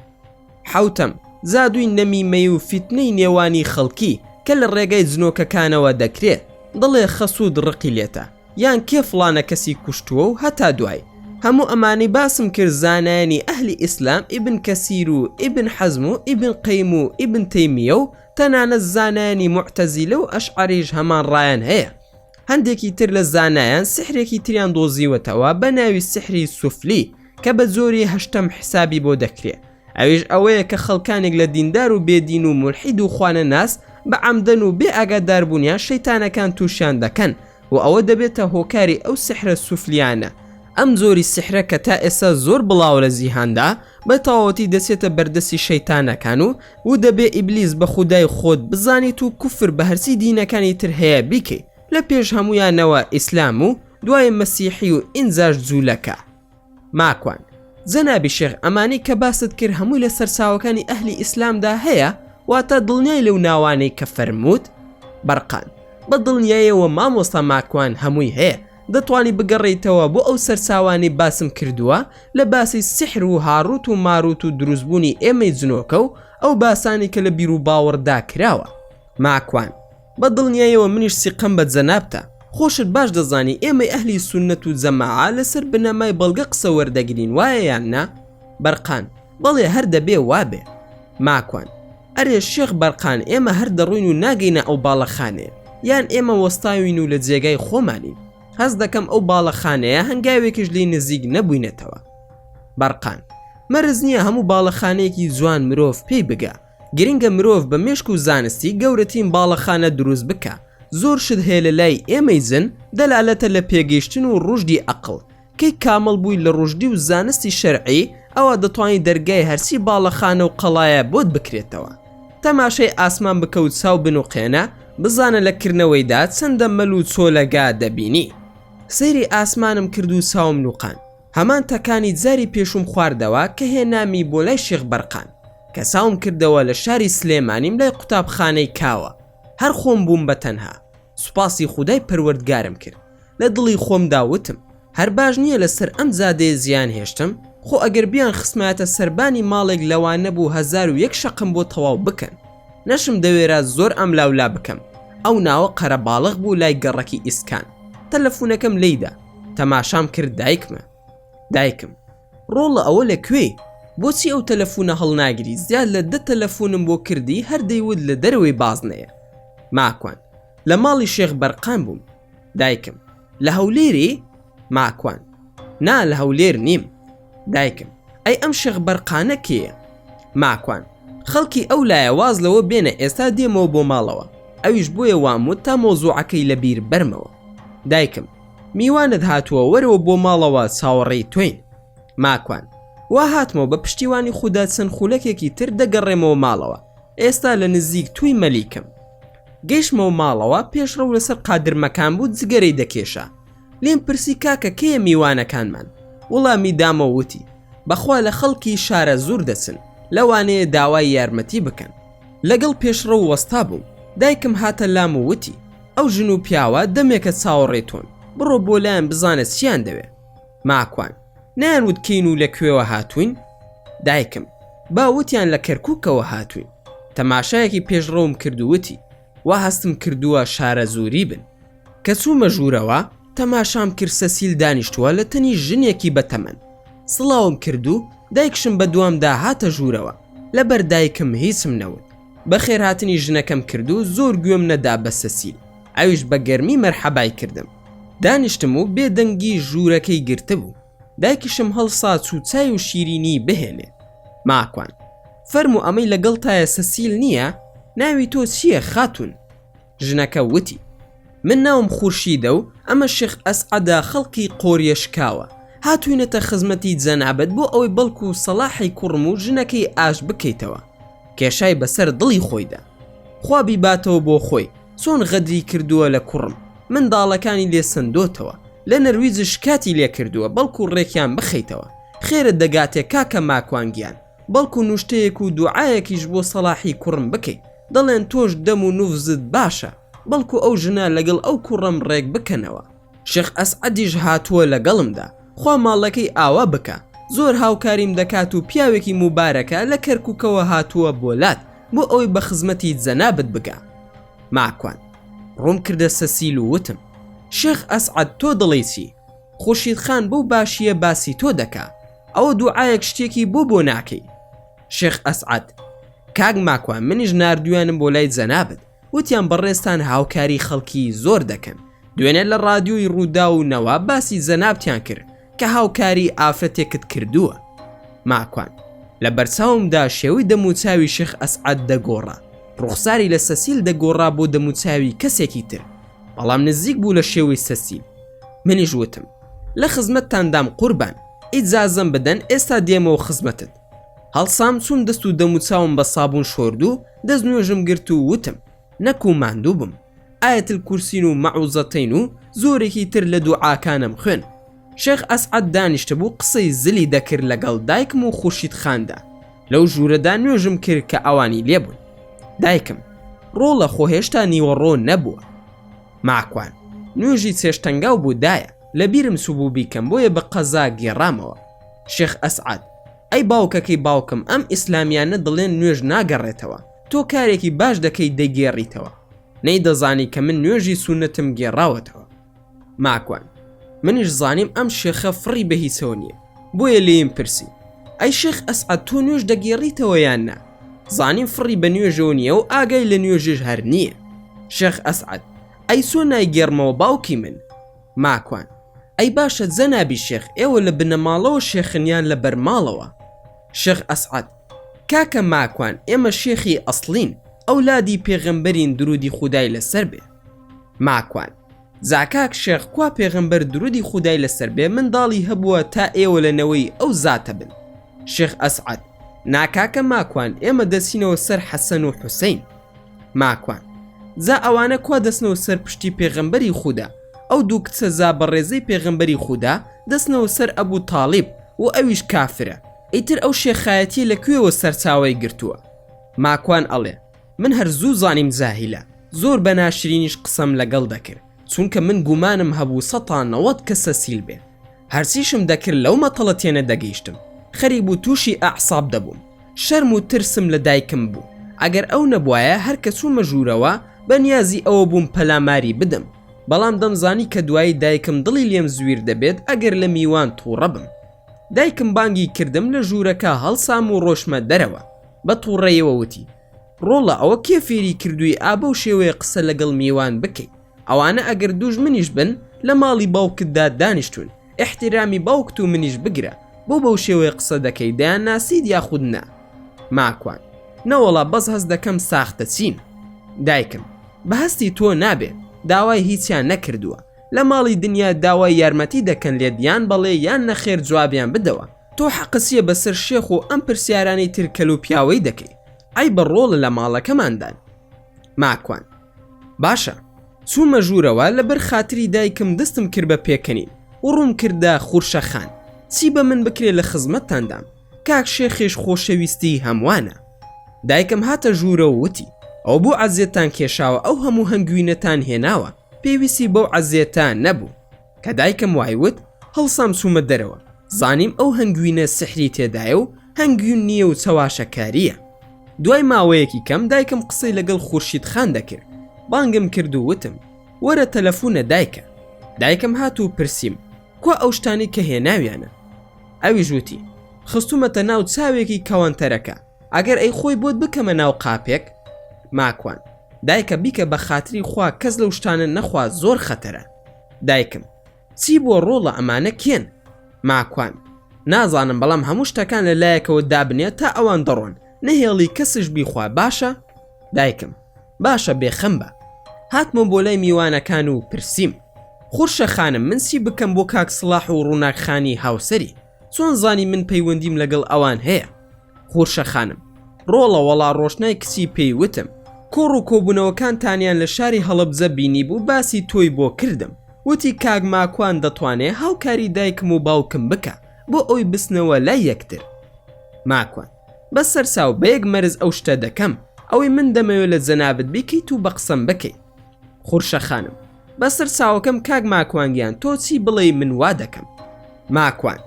حەوتەم، جادووی نەمیمەیی و فیتنەی نێوانی خەڵکی، کە لە ڕێگای جنۆکەکانەوە دەکرێ، دەڵێ خەسوود ڕقی لێتە، یان کێ فڵانە کەسی کوشتووە و هەتا دوایی. هەموو ئەمانەی باسم کرد زانایانی ئەهلی ئیسلام ئیبن کەسیر و ئیبن حەزم و ئیبن قەیم و ئیبن تەیمیە و تەنانەت زانایانی موعتەزیلە و ئەشعەریش هەمان ڕایان هەیە. هەندێکی تر لە زانایان سیحرێکی تریان دۆزیوەتەوە بە ناوی سیحری سوفلی کە بە جۆری هەشتەم حیسابی بۆ دەکرێ. ئەویش ئەوەیە کە خەڵکانێک لە دیندار و بێ دین و مولحید و خوانەناس بە عەمدەن و بێ ئاگاداربوونیان شەیتانەکان تووشیان دەکەن و ئەوە دەبێتە هۆکاری ئەو سیحرە سوفلیانە، ئەم جۆری سیحرە کە تا ئێستا زۆر بڵاوە لە جیهاندا بە تەواوەتی دەچێتە بەردەستی شەیتانەکان و و دەبێ ئیبلیس بە خودای خۆت بزانیت و کوفر بە هەرچی دینەکانی تر هەیە بیکەی لە پێش هەموویانەوە ئیسلام و دوای مەسیحی و ئینجاش جوولەکە ماکوان. جەنابی شێخ ئەمانەی کە باست کرد هەمووی لە سەرچاوەکانی ئەهلی ئیسلامدا هەیە واتە دڵنیای لەو ناوانەی کە فەرمووت؟ بەرقان. بە دڵنیایەوە مامۆستا ماکوان هەمووی هەیە دەتوانی بگەڕێیتەوە بۆ ئەو سەرچاوانەی باسم کردووە لە باسی سیحر و هاڕووت و مارووت و دروستبوونی ئێمەی جنۆکە و ئەو باسانەی کە لە بیروباوەڕدا کراوە. ماکوان. بە دڵنیایەوە منیش سیقەم بە جەنابتە، خۆشت باش دەزانی ئێمەی ئەهلی سوننەت و جەماعە لەسەر بنەمای بەڵگە قسە وەردەگرین وایە یان نا؟ بەرقان، بەڵێ هەر دەبێ وابێ. ماکوان، ئەرێ شێخ بەرقان ئێمە هەر دەڕۆین و ناگەینە ئەو باڵەخانەیە، یان ئێمە وەستاوین و لە جێگای خۆمانین؟ هەست دەکەم ئەو باڵەخانەیە هەنگاوێکیش لێی نزیک نەبووینەتەوە. بەرقان، مەرج نییە هەموو باڵەخانەیەکی جوان مرۆڤ پێی بگا، گرنگە مرۆڤ بە مێشک و زانستی گەورەتین باڵەخانە دروست بکا زۆر شت هەیە لە لای ئێمەی جن دەلالەتە لە پێگەیشتن و ڕوشدی ئەقڵ کەی کامڵ بووی لە ڕوشدی و زانستی شەرعی ئەوا دەتوانی دەرگای هەرچی باڵەخانە و قەڵایە بۆت بکرێتەوە تەماشای ئاسمان بکە و چاو بنوقێنە بزانە لە کردنەوەیدا چەندە مەل و چۆلەگا دەبینی سەیری ئاسمانم کرد و چاوم نوقاند هەمان تەکانی جاری پێشوم خواردەوە کە هێنامی بۆ لای شێخ بەرقان کە ساوم کردەوە لە شاری سلێمانیم لای قوتابخانەی کاوە هەر خۆم بووم بە تەنها سوپاسی خودای پەروەردگارم کرد لە دڵی خۆمدا وتم هەر باش نییە لە سەر ئەم جادەیە زیان هێشتم خۆ ئەگەر بیان خسمایەتە سەربانی ماڵێک لەوان نەبوو هەزار و یەک شەقم بۆ تەواو بکەن نەشم دەوێرا زۆر ئەم لاولا بکەم ئەو ناوە قەرەباڵغ بوو لای گەڕەکی ئیسکان تەلەفونەکەم لیدا تەماشام کرد دایکمە دایکم ڕۆڵە ئەوە لە کوێی؟ بۆچی ئەو تەلەفونە هەڵناگری زیاد لە دە تەلەفونم بۆ کردی هەر دەیوت لە دەرەوەی بازنەیە ماکوان لە ماڵی شێخ بەرقان بووم دایکم لە هەولێری؟ ماکوان نا لە هەولێر نیم دایکم ئەی ئەم شێخ بەرقانە کێیە؟ ماکوان خەڵکی ئەو لایە واز لەوە بێنە ئێستا دێمەوە بۆ ماڵەوە ئەویش بۆیە وام وت تا مەوزوعەکەی لە بیر بەرمەوە دایکم میوانت هاتووە وەرەوە بۆ ماڵەوە چاوەڕێی تۆین. ماکوان، وا هاتمەوە بە پشتیوانی خودا چەند خولەکێکی تر دەگەڕێمەوە ماڵەوە، ئێستا لە نزیک تووی مەلیکم. گەیشتمەوە ماڵەوە پێشڕەو لەسەر قادرمەکان بوو جگەرەی دەکێشا لێم پرسی کاکە کەیە میوانەکانمان؟ وڵامی دامەوە وتی، بەخوا لە خەڵکی شارە زوور دەچن لەوانەیە داوای یارمەتی بکەن. لەگەڵ پێشڕەو وەستا بووم دایکم هاتە لام و وتی، ئەو ژن و پیاوە دەمێکە چاوەڕێی تۆن بڕۆ بۆ لایان بزانە چیان دەوێ ماکوان نایان وت کین و لە کوێوە هاتوین دایکم با وتیان لە کەرکووکەوە هاتوین تەماشایەکی پێشڕەوم کردووتی وا هەستم کردووە شارە زووری بن کە چوومە ژوورەوە تەماشام کرد سەسیل دانیشتووە لە تەنی ژنێکی بەتەمەن سڵاوم کردو دایکشم بە دوامدا هاتە ژوورەوە لەبەر دایکم هیچم نەوت بەخێرهاتنی ژنەکەم کرد و زۆر گوێم نەدا بە سەسیل، ئەویش بە گەرمی مەرحەبای کردم. دانیشتم و بێ دەنگی ژوورەکەی گرتبوو. دایکیشم هەڵسا چوو چای و شیرینیی بهێنێ. ماکوان، فەرموو ئەمەی لەگەڵتایە سەسیل نییە؟ ناوی تۆ چییە خاتوون؟ ژنەکە وتی، من ناوم خورشیدە و ئەمە شێخ ئەسعەدە خەڵکی قۆریە شکاوە، هاتووینەتە خزمەتی جەنابت بۆ ئەوەی بەڵکو سەڵاحی کوڕم و ژنەکەی ئاش بکەیتەوە. کێشای بەسەر دڵی خۆیدا. خوا بیباتەوە بۆ خۆی، چۆن غەدری کردووە لە کوڕم، منداڵەکانی لێ سەندۆتەوە، لە نەرویج شکاتی لێ کردووە بەڵکو ڕێکیان بخەیتەوە. خێرت دەگاتێ کاکە ماکوان گیان. بەڵکو نوشتەیەک و دوعایەکیش بۆ سەڵاحی کوڕم بکەی دەڵێن تۆش دەم و نوفزت باشە بەڵکو ئەو ژنە لەگەڵ ئەو کوڕەم ڕێک بکەنەوە شێخ ئەسعەدیش هاتووە لەگەڵمدا خوا ماڵەکەی ئاوا بکا زۆر هاوکاریم دەکات و پیاوێکی موبارەکە لە کەرکوکەوە هاتووە بۆ لات بۆ ئەوەی بە خزمەتی جەنابت بگا ماکوان ڕووم کردە سەسیل و وتم شێخ ئەسعەد تۆ دڵی چی خوشید خان بەو باشییە باسی تۆ دەکا ئەوە دوعایەک شتێکی بۆ بۆ ناکەی شێخ ئەسعات کاک ماکوان منیش نردویانم بۆ لای جەنابەت وتیان بەڕێستان هاوکاری خەڵکی زۆر دەکەن دوێنێ لە ڕادیۆی ڕوودا و نەوە باسی جەنابتیان کرد کە هاوکاری ئافرەتێکت کردووە ماکوان لە بەرچاومدا شێوی دەموچاوی شێخ ئەسعات دەگۆڕا ڕوخساری لە سەسیل دەگۆڕا بۆ دەموچاوی کەسێکی تر بەڵام نزیک بوو لە شێوەی سەسیل منیش وتم لە خزمەتتاندام قوربان ئیجازەم بدەن ئێستا دێمەوە خزمەتت هەڵسام چووم دەست و دەموچاوم بە سابوون شۆرد و دەست نوێژم گرت و وتم نەکو ماندوو بم ئاەتل کورسین و مەعوزەتین و زۆرێکی تر لە دوو ئاکانم خوێن شێخ ئەسعەد دانیشتبوو قسەی زلی دەکرد لەگەڵ دایکم و خورشید خاندا، لەو ژوورەدا نوێژم کرد کە ئەوانی لێ بوون. دایکم، ڕۆڵە خۆ هێشتا نیوەڕۆ نەبووە. ماکوان، نوێژی چێشتەنگاو بوو دایە، لە بیرم چووبوو بیکەم بۆیە بە قەزا گێڕامەوە. شێخ ئەسعەد، ئەی باوکەکەی باوکم ئەم ئیسلامیانە دەڵێن نوێژ ناگەڕێتەوە، تۆ کارێکی باش دەکەی دەیگێڕیتەوە. نەیدەزانی کە من نوێژی سوننەتم گێڕاوەتەوە. ماکوان منیش زانیم ئەم شێخە فڕی بە هیچەوە نییە بۆیە لێم پرسی ئەی شێخ ئەسعە تۆ نوێش دەگێڕیتەوە یان نا زانیم فڕی بە نوێژەوە نییە و ئاگای لە نوێژێش هەر نییە شێخ ئەسعەت ئەی سۆ نایگەرمەوە باوکی من ماکوان ئەی باشە جەنابی شێخ ئێوە لە بنەماڵەوە شێخنیان لە بەرماڵەوە شێخ ئەسعەت کاکە ماکوان ئێمە شێخی ئەسلین ئەولادی پێغەمبەرین درودی خودای لەسەر بێ ماکوان. زاکاک شێخ کوا پێغەمبەر درودی خودای لەسەر بێ منداڵی هەبووە تا ئێوە لە نەوەی ئەو زاتە بن؟ شێخ ئەسعەد. نا کاکە ماکوان ئێمە دەچینەوە سەر حەسەن و حوسەین. ماکوان. جا ئەوانە کوا دەچنەوە سەر پشتی پێغەمبەری خودا؟ ئەو دوو کچە جا بەڕێزەی پێغەمبەری خودا دەچنەوە سەر ئەبو تاڵیب و ئەویش کافرە. ئیتر ئەو شێخایەتیە لە کوێوە سەرچاوەی گرتووە؟ ماکوان ئەڵێ. من هەر زوو زانیم جاهیلە زۆر بە ناشرینیش قسەم لەگەڵ دەکرد چونکە من گومانم هەبوو سەد تا نەوەد کە سەسیل بێ هەرچیشم دەکرد لەو مەتەڵە تێنە دەگەیشتم خەریک بوو تووشی ئەعساب دەبووم شەرم و ترسم لە دایکم بوو ئەگەر ئەو نەبوایە هەر کە چوومە ژوورەوە بە نیازی ئەوە بووم پەلاماری بدەم بەڵام دەمزانی کە دوایی دایکم دڵی لێم زویر دەبێت ئەگەر لە میوان تووڕە بم دایکم بانگی کردم لە ژوورەکە هەڵسام و ڕۆشمە دەرەوە بە توڕەیەوە وتی ڕۆڵە ئەوە کێ فێری کردووی ئا بەو شێوەیە قسە لەگەڵ میوان بکەی ئەوانە ئەگەر دووژمنیش بن لە ماڵی باوکتدا دانیشتوون ئیحتیرامی باوکت و منیش بگرە بۆ بەو شێوەیە قسە دەکەی دەیانناسیت یاخود نا ماکوان نەوەڵا بەس هەست دەکەم ساختەچین دایکم بە هەستی تۆ نابێت داوای هیچیان نەکردووە لە ماڵی دنیا داوای یارمەتی دەکەن لێت یان بەڵێ یان نەخێر جوابیان بدەوە تۆ حەقت چیە بەسەر شێخ و ئەم پرسیارانەی تر کەلو پیاوەی دەکەی عەیبە ڕۆڵە لە ماڵەکەماندان ماکوان باشە چومە ژورەوە لەبەر خاتری دایکم دەستم کرد بە پێکەنین و ڕوم کردە خورشە خان چی بە من بکرێ لە خزمەتتان دام کاک شێخیش خۆشەویستی هەموانە دایکم هاتە ژورە و وتی ئەو بۆ عەزێتان کێشاوە ئەو هەموو هەنگوینەتان هێناوە پێویستی بەو عەزێتە نەبوو کە دایکم وای وت هەڵسام چوومە دەرەوە زانیم ئەو هەنگوینە سحری تێدایە و هەنگوین نییە و چەواشەکارییە دوای ماوەیەکی کەم دایکم قسەی لەگەڵ خورشید خان دەکرد بانگم کرد و وتم وەرە تەلەفونە دایکە دایکم هات و پرسییم کوا ئەو شتانی کە هێناویانە ئەوی ژووتی خستومەتە ناو چاوێکی کەوانتەرەکە ئەگەر ئەی خۆی بۆت بکەمە ناو قاپێک ماکوان دایکە بیکە بە خاتری خوا کەس لەو شتانە نەخوا زۆر خەتەرە دایکم، چی بۆ ڕۆڵە ئەمانە کێن؟ ماکوان، نازانم بەڵام هەموو شتەکان لە لایەکەوە دابنێ تا ئەوان دەڕۆن نەهێڵی کەسش بیخوا باشە؟ دایکم، باشە بێ خەم بە. هاتمەوە بۆ لای میوانەکان و پرسیم، خورشە خانم من چی بکەم بۆ کاک سڵاح و ڕووناک خانی هاوسەری؟ چۆن زانی من پەیوەندیم لەگەڵ ئەوان هەیە؟ قورشە خانم ڕۆڵە وەڵا ڕۆشنای کچی پێی وتم کۆڕ و کۆبوونەوەکانتانیان لە شاری هەڵەبجە بینیبوو باسی تۆی بۆ کردم وتی کاک ماکوان دەتوانێ هاوکاری دایکم و باوکم بکا بۆ ئەوی بچنەوە لای یەکتر ماکوان بە سەرچاو بە یەک مەرز ئەو شتە دەکەم ئەوەی من دەمەوێ لە جەنابت بیکەیت و بە قسەم بکەیت خورشە خانم بەسەر چاوەکەم کاک ماکوان گیان تۆ چی بڵێ من وا دەکەم ماکوان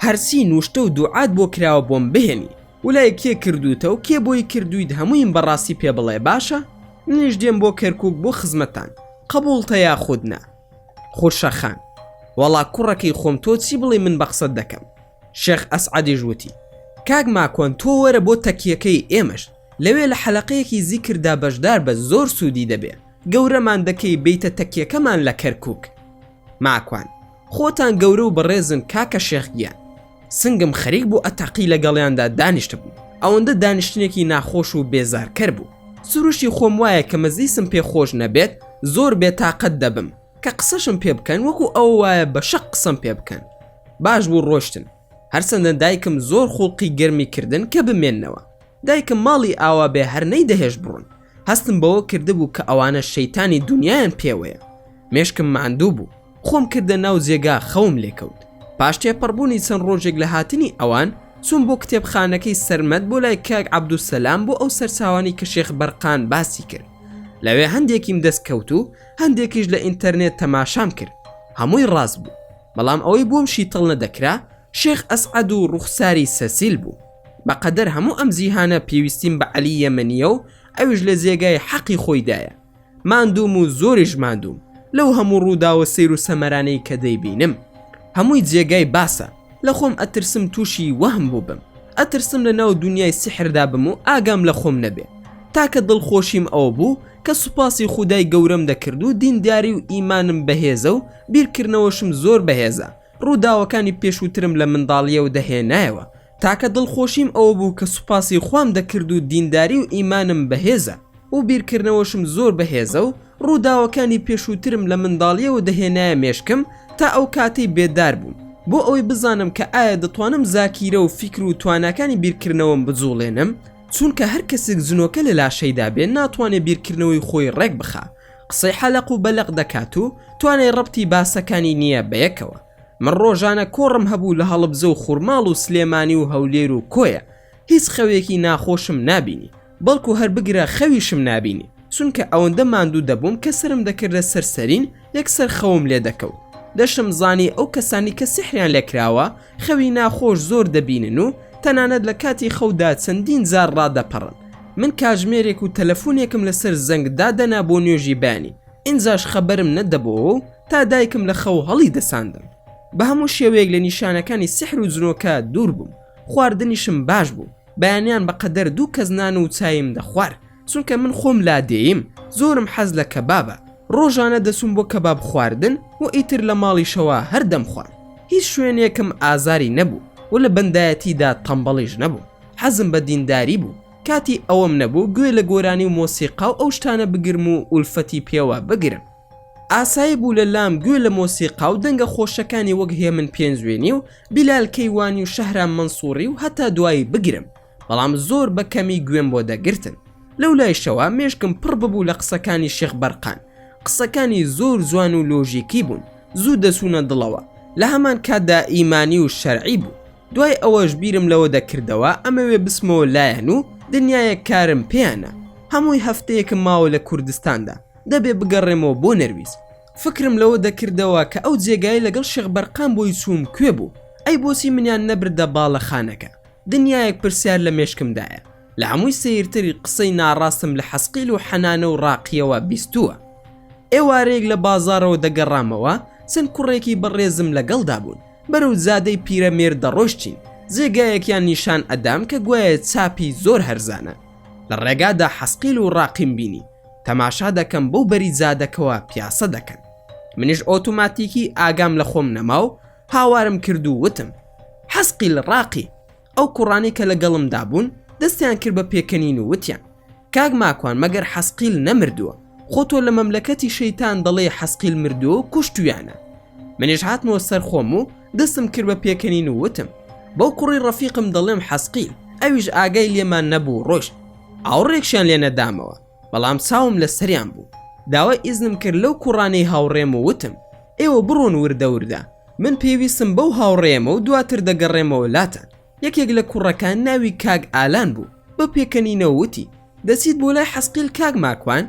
هەرچی نوشتە و دوعات بۆ کراوە بۆم بهێنی ولای کێ کردوتە و کێ بۆی کردویت هەموویم بەڕاستی پێ بڵێ باشە منیش دێم بۆ کەرکک بۆ خزمەتان قبولتە یا خودنا خورشەخان وەڵا کوڕەکەی خۆم تۆ چی بڵێ من بە قسەت دەکەم شێخ ئەسعەدیش وتی، کاک ماکوان تۆ وەرە بۆ تەکیەکەی ئێمەش، لەوێ لە حەلەقەیەکی زیکردا بەشدار بە زۆر سوودی دەبێ، گەورەمان دەکەی بێیتە تەکیەکەمان لە کەرکووک. ماکوان، خۆتان گەورە و بەڕێزن کاکە شێخ گیان. سنگم خەریک بوو ئەتەقی لەگەڵیاندا دانیشتبم، ئەوەندە دانیشتنێکی ناخۆش و بێزارکەر بوو، سروشتی خۆم وایە کە مەزلیسم پێ خۆش نەبێت زۆر بێتاقەت دەبم، کە قسەشم پێ بکەن وەکو ئەو وایە بە شەق قسەم پێ بکەن باش بوو ڕۆشتن هەرچەندە دایکم زۆر خوڵقی گەرمی کردن کە بمێنەوە دایکم ماڵی ئاوا بێ هەر نەی دەهێش بڕۆن هەستم بەوە کردبوو کە ئەوانە شەیتانی دنیایان پێوەیە مێشکم ماندوو بوو خۆم کردە ناو جێگا خەوم لێکەوت پاش تێپەڕبوونی چەند ڕۆژێک لە هاتنی ئەوان چوون بۆ کتێبخانەکەی سەرمەت بۆ لای کاک عبدوسەلام بۆ ئەو سەرچاوانی کە شێخ بەرقان باسی کرد لەوێ هەندێکیم دەست کەوت و هەندێکیش لە ئینتەرنێت تەماشام کرد هەمووی ڕاست بوو بەڵام ئەوەی بۆم شیتەڵ نەدەکرا شێخ ئەسعەد و ڕوخساری سەسیل بوو بەقەدەر هەموو ئەم جیهانە پێویستیم بە عەلی یەمەنیە و ئەویش لە جێگای حەقی خۆیدایە ماندووم و زۆریش ماندووم لەو هەموو ڕووداوە سیر و سەمەرانەی کە دەیبینم هەمووی جێگای باسە لە خۆم ئەترسم تووشی وەهم بووبم ئەترسم لە ناو دنیای سیحردا بم و ئاگام لە خۆم نەبێ تاکە دڵخۆشیم ئەوە بوو کە سوپاسی خودای گەورەم دەکرد و دینداری و ئیمانم بەهێزە و بیرکردنەوەشم زۆر بەهێزە، ڕووداوەکانی پێشووترم لە منداڵییەوە دەهێنایەوە، تاکە دڵخۆشیم ئەوە بوو کە سوپاسی خوام دەکرد و دینداری و ئیمانم بەهێزە و بیرکردنەوەشم زۆر بەهێزە و ڕووداوەکانی پێشووترم لە منداڵییەوە دەهێنایە مێشکم تا ئەو کاتەی بێدار بووم بۆ ئەوەی بزانم کە ئایا دەتوانم زاکیرە و فیکر و تواناکانی بیرکردنەوەم بجوڵێنم چونکە هەر کەسک جنۆکە لە لاشەیدا بێ ناتوانێ بیرکردنەوەی خۆی ڕێک بخا قسەی حەلەق و بەلەق دەکات و توانای ڕەبتی باسەکانی نییە بەیەکەوە من ڕۆژانە کۆڕم هەبوو لە هەڵبجە و خورماڵ و سلێمانی و هەولێر و کۆیە هیچ خەوێکی ناخۆشم نابینی بەڵکو هەر بگرە خەویشم نابینی چونکە ئەوەندە ماندوو دەبووم کە سەرم دەکردە سەر سەرین یەکسەر خەوم لێ دەکەوت دەشم زانی ئەو کەسانی کە سیحریان لێکراوە خەوی ناخۆش زۆر دەبینن و تەنانەت لە کاتی خەودا چەندین جار ڕادەپەڕن، من کاژمێرێک و تەلەفونێکم لەسەر زەنگ دادەنا بۆ نوێژی بەیانی ئینجاش خەبەرم نەدەبۆوە و تا دایکم لە خەو هەڵی دەساندم بە هەموو شێوەیەک لە نیشانەکانی سیحر و جنۆکە دوور بووم خواردنیشم باش بوو بەیانیان بەقەدەر دوو کەس نان و چایم دەخوارد چونکە من خۆم لادێیم زۆرم حەز لە کەبابە ڕۆژانە دەچووم بۆ کەباب خواردن و ئیتر لە ماڵیشەوە هەر دەمخوارد هیچ شوێنێکم ئازاری نەبوو و لە بەندایەتیدا تەمبەڵیش نەبووم حەزم بە دینداری بوو کاتی ئەوەم نەبوو گوێ لە گۆرانی و مۆسیقا و ئەو شتانە بگرم و ئولفەتی پێوە بگرم ئاسایی بوو لە لام گوێ لە مۆسیقا و دەنگە خۆشەکانی وەک هێمن پێنجوێنی و بیلال کەیوانی و شەهرام مەنسووڕی و هەتا دوایی بگرم بەڵام زۆر بە کەمی گوێم بۆ دەگرتن لەو لایشەوە مێشکم پڕ ببوو لە قسەکانی شێخ بەرقان قسەکانی زۆر جوان و لۆژیکی بوون زوو دەچوونە دڵەوە لە هەمان کاتدا ئیمانی و شەرعی بوو دوای ئەوەش بیرم لەوە دەکردەوە ئەمەوێ بچمەوە لایەن و دنیایەک کارم پێیانە هەمووی هەفتەیەکم ماوە لە کوردستاندا دەبێ بگەڕێمەوە بۆ نەرویج فکرم لەوە دەکردەوە کە ئەو جێگای لەگەڵ شێخ بەرقان بۆی چووم کوێ بوو ئەی بۆچی منیان نەبردە باڵەخانەکە دنیایەک پرسیار لە مێشکمدایە لە هەمووی سەیرتر قسەی ناڕاستم لە حەسقیل و حەنانە و ڕاقیەوە بیستووە ئێوارەیەک لە بازاڕەوە دەگەڕامەوە چەند کوڕێکی بەڕێزم لەگەڵدا بوون بەرەو جادەی پیرەمێرد دەڕۆشتین جێگایەکیان نیشان ئەدام کە گوایە چاپی زۆر هەرزانە لە ڕێگادا حەسقیل و ڕاقیم بینی تەماشا دەکەم بەو بەری جادەکەوە پیاسە دەکەن منیش ئۆتوماتیکی ئاگام لە خۆم نەماو هاوارم کرد و وتم حەسقی لە ڕاقی ئەو کوڕانی کە لەگەڵمدا بوون دەستیان کرد بە پێکەنین و وتیان کاک ماکوان مەگەر حەسقیل نەمردووە خۆ تۆ لە مەملەکەتی شەیتان دەڵێ حەسقیل مردووە و کوشتویانە منیش هاتمەوە سەر خۆم و دەستم کرد بە پێکەنین و وتم بەو کوڕی ڕەفیقم دەڵێم حەسقیل ئەویش ئاگای لێمان نەبوو ڕۆشت ئاوڕێکشیان لێ نەدامەوە بەڵام چاوم لە سەریان بوو داوای ئیزنم کرد لەو کوڕانەی هاوڕێم و وتم ئێوە بڕۆن وردە وردە من پێویستم بەو هاوڕێیەمە و دواتر دەگەڕێمەوە لاتان یەکێک لە کوڕەکان ناوی کاک ئالان بوو بە پێکەنینەوە وتی دەچیت بۆ لای حەسقیل کاک ماکوان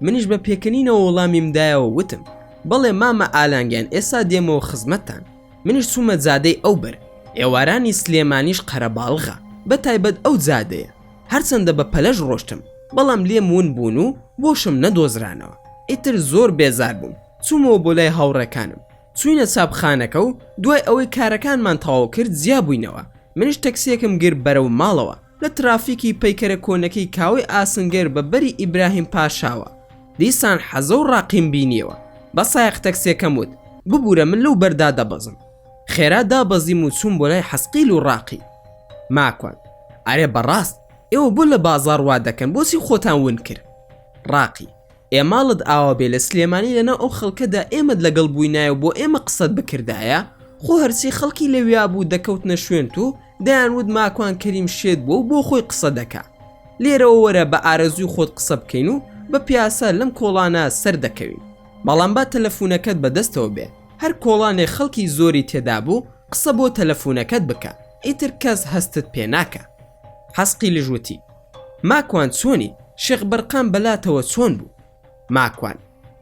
منیش بە پێکەنینەوە وەڵامیم دایەوە وتم بەڵێ مامە ئالانگیان ئێستا دێمەوە خزمەتتان منیش چوومە زادەی ئەو بەر ئێوارانی سلێمانیش قەرەباڵغا بە تایبەت ئەو زادەیە هەرچەندە بە پەلەش ڕۆشتم بەڵام لێم ون بوون و بۆشم نەدۆزرانەوە ئیتر زۆر بێزار بووم چوومەوە بۆ لای هاوڕێکانم چوینە چاپخانەکە و دوای ئەوەی کارەکانمان تەواو کرد جیا بووینەوە منش تەکسیەکم گرت بەرەو ماڵەوە لە ترافیکی پەیکەرە کۆنەکەی کاوەی ئاسنگەر بە بەری ئیبراهیم پاشاوە دیسان حەزە و ڕاقیم بینیەوە بە سایەق تەکسیەکەم وت ببورە من لەو بەردا دەبەزم خێرا دابەزیم و چووم بۆ لای حەسقیل و ڕاقی ماکوان، ئەرێ بەڕاست ئێوە بۆ لە بازاڕ وا دەکەن بۆچی خۆتان ون کرد؟ ڕاقی، ئێ ماڵت ئاوا بێ لە سلێمانی لەناو ئەو خەڵکەدا ئێمەت لەگەڵ بووینایە و بۆ ئێمە قسەت بکردایە، خۆ هەرچی خەڵکی لەویا بوو دەکەوتنە شوێنت و دەیانوت ماکوان کەریم شێت بووە و بۆ خۆی قسە دەکا، لێرەوە وەرە بە ئارەزووی خۆت قسە بکەین و بە پیاسە لەم کۆڵانە سەر دەکەوین، بەڵام با تەلەفوونەکەت بە دەستەوە بێ. هەر کۆڵانێ خەڵکی زۆری تێدابوو قسە بۆ تەلەفونەکەت بکە ئیتر کەس هەستت پێ ناکا حەسقیلش وتی ماکوان چۆنی شێخ بەرقان بەلاتەوە چۆن بوو ماکوان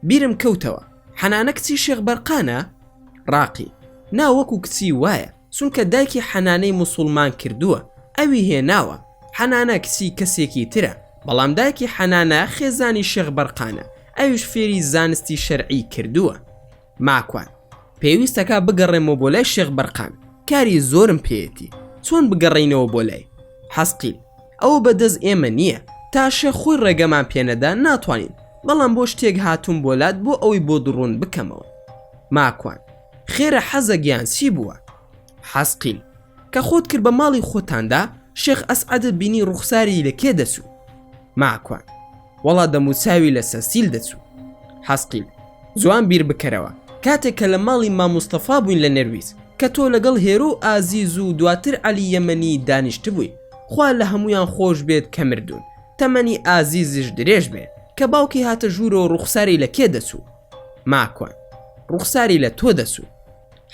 بیرم کەوتەوە حەنانە کچی شێخ بەرقانە ڕاقی نا وەکو کچی وایە چونکە دایکی حەنانەی موسوڵمان کردووە ئەوی هێناوە، حەنانە کچی کەسێکی ترە، بەڵام دایکی حەنانە خێزانی شێخ بەرقانە ئەویش فێری زانستی شەرعی کردووە. ماکوان، پێویستە کا بگەڕێمەوە بۆ لای شێخ بەرقان، کاری زۆرم پێیەتی، چۆن بگەڕێینەوە بۆ لای؟ حەسقیل، ئەوە بە دەست ئێمە نییە، تا شێخ خۆی ڕێگەمان پێ نەدا ناتوانین، بەڵام بۆ شتێک هاتووم بۆ لات بۆ ئەوەی بۆت ڕوون بکەمەوە. ماکوان. خێرە حەزە گیان چی بووە؟ حەزقیل کە خۆت کرد بە ماڵی خۆتاندا شێخ ئەسعەدت بینی ڕوخساری لە کێ دەچوو؟ ماکوان وەڵا دەموچاوی لە سەسیل دەچوو حەزقیل جوان بیر بکەرەوە کاتێک کە لە ماڵی ماموستەفا بووین لە نەرویج کە تۆ لەگەڵ هێرو و ئازیز و دواتر عەلی یەمەنی دانیشتبووی خوا لە هەموویان خۆش بێت کە مردوون تەمەنی ئازیزیش درێژ بێ کە باوکی هاتە ژوورەوە ڕوخساری لە کێ دەچوو؟ ماکوان ڕوخساری لە تۆ دەسوو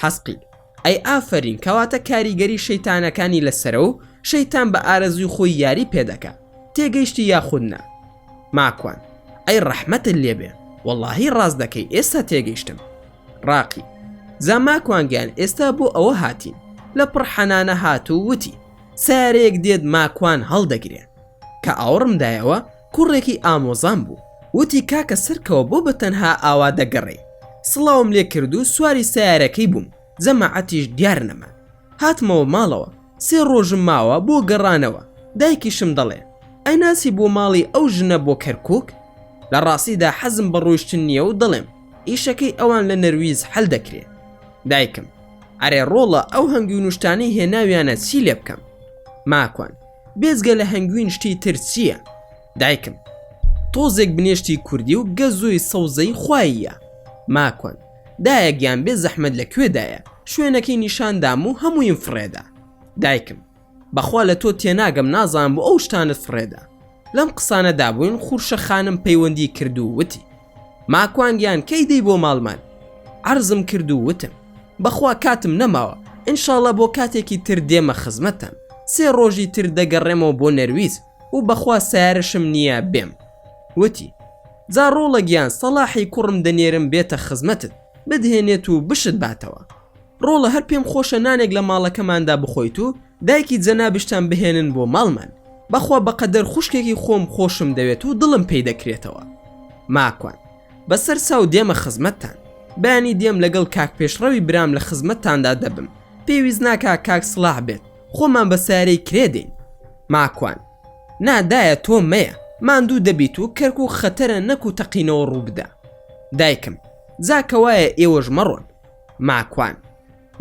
حەسقیل. ئەی ئافەرین کەواتە کاریگەری شەیتانەکانی لەسەرە و شەیتان بە ئارەزووی خۆی یاری پێ دەکا تێگەیشتی یاخود نا ماکوان ئەی ڕەحمەتت لێ بێ وەڵاهی ڕاست دەکەی ئێستا تێگەیشتم ڕاقی زا ماکوان گیان ئێستا بۆ ئەوە هاتین لە پڕ حەنانە هات و وتی سارەیەک دێت ماکوان هەڵدەگرێ کە ئاوڕم دایەوە کوڕێکی ئامۆزام بوو وتی کاکە سەرکەوە بۆ بە تەنها ئاوا دەگەڕێی سڵاوم لێ کرد و سواری سەیارەکەی بووم جەماعەتیش دیار نەما هاتمەوە ماڵەوە سێ ڕۆژم ماوە بۆ گەڕانەوە دایکیشم دەڵێ ئەیناسی بۆ ماڵی ئەو ژنە بۆ کەرکوک؟ لە ڕاستیدا حەزم بە ڕۆیشتن نییە و دەڵێم ئیشەکەی ئەوان لە نەرویز حەل دەکرێ دایکم ئەرێ ڕۆڵە ئەو هەنگی و نوشتانەی هێناویانە چی لێ بکەم ماکوان بێجگە لە هەنگوین شتی تر چییە؟ دایکم، تۆزێک بنێشتی کوردی و گەزۆی سەوزەی خواییە. ماکوان، دایە گیان بێ زەحمەت لە کوێدایە؟ شوێنەکەی نیشان دام و هەموویم فڕێدا. دایکم، بەخوا لە تۆ تێناگەم نازانم بۆ ئەو شتانەت فڕێدا. لەم قسانەدا بووین خورشە خانم پەیوەندی کرد و وتی. ماکوان گیان کەی دێی بۆ ماڵمان عەرزم کرد و وتم بەخوا کاتم نەماوە انشاڵڵە بۆ کاتێکی تر دێمە خزمەتتان سێ ڕۆژی تر دەگەڕێمەوە بۆ نەرویج و بەخوا سەیارەشم نییە بێم وتی جا ڕۆڵە گیان سەڵاحی کوڕم دەنێرم بێتە خزمەتت بدهێنێت و بشت باتەوە. ڕۆڵە هەر پێم خۆشە نانێک لە ماڵەکەماندا بخۆیت و دایکی جەنابشتان بهێنن بۆ ماڵمان بەخوا بەقەدەر خوشکێکی خۆم خۆشم دەوێت و دڵم پێی دەکرێتەوە ماکوان بە سەر ساو دێمە خزمەتتان بەیانی دێم لەگەڵ کاک پێشڕەوی برام لە خزمەتتاندا دەبم پێویست ناکا کاک سڵاح بێت خۆمان بە سارەی کرێ دێین ماکوان نادایە تۆ مەیە ماندوو دەبیت و کەرک و خەتەرە نەک و تەقینەوە ڕووبدا دایکم جا کەوایە ئێوەش مەڕۆن ماکوان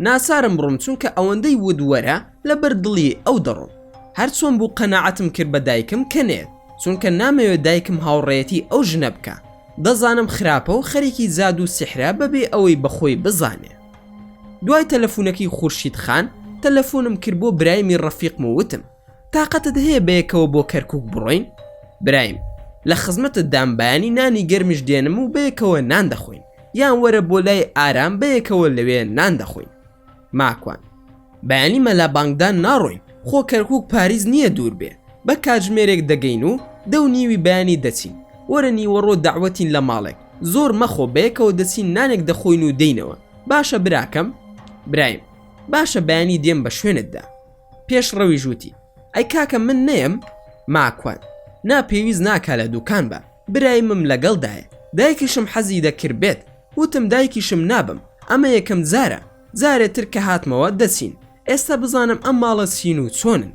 ناچارم بڕۆم چونکە ئەوەندەی وت وەرە لەبەر دڵی ئەو دەڕۆم هەرچۆن بوو قەناعەتم کرد بە دایکم کە نەیەت چونکە نامەوێت دایکم هاوڕێیەتی ئەو ژنە بکە دەزانم خراپە و خەریکی جادوو و سیحرە بەبێ ئەوەی بەخۆی بزانێ دوای تەلەفونەکەی خورشید خان تەلەفۆنم کرد بۆ برایمی ڕەفیقم و وتم تاقەتت هەیە بەیەکەوە بۆ کەرکک بڕۆین برایم لە خزمەتت دام بەیانی نانی گەرمیش دێنم و بەیەکەوە نان دەخۆین یان وەرە بۆ لای ئارام بەیەکەوە لەوێ نان دەخۆین ماکوان بەیانی مەلا بانگدان ناڕۆین خۆ کەرکک پاریس نییە دوور بێ بە کاتژمێرێک دەگەین و دە و نیوی بەیانی دەچین وەرە نیوەڕۆ دەعوەتین لە ماڵێک زۆر مەخۆ بەیەکەوە دەچین نانێک دەخۆین و دێینەوە باشە براکەم برایم باشە بەیانی دێم بە شوێنتدا. پێش ڕەویش وتی ئەی کاکە من نەیەم ماکوان نا پێویست ناکا لە دوکان بە برای مم لەگەڵدایە دایکیشم حەزی دەکرد بێت وتم دایکیشم نابم ئەمە یەکەم جارە جارێ تر کە هاتمەوە دەچین ئێستا بزانم ئەم ماڵە چین و چۆنن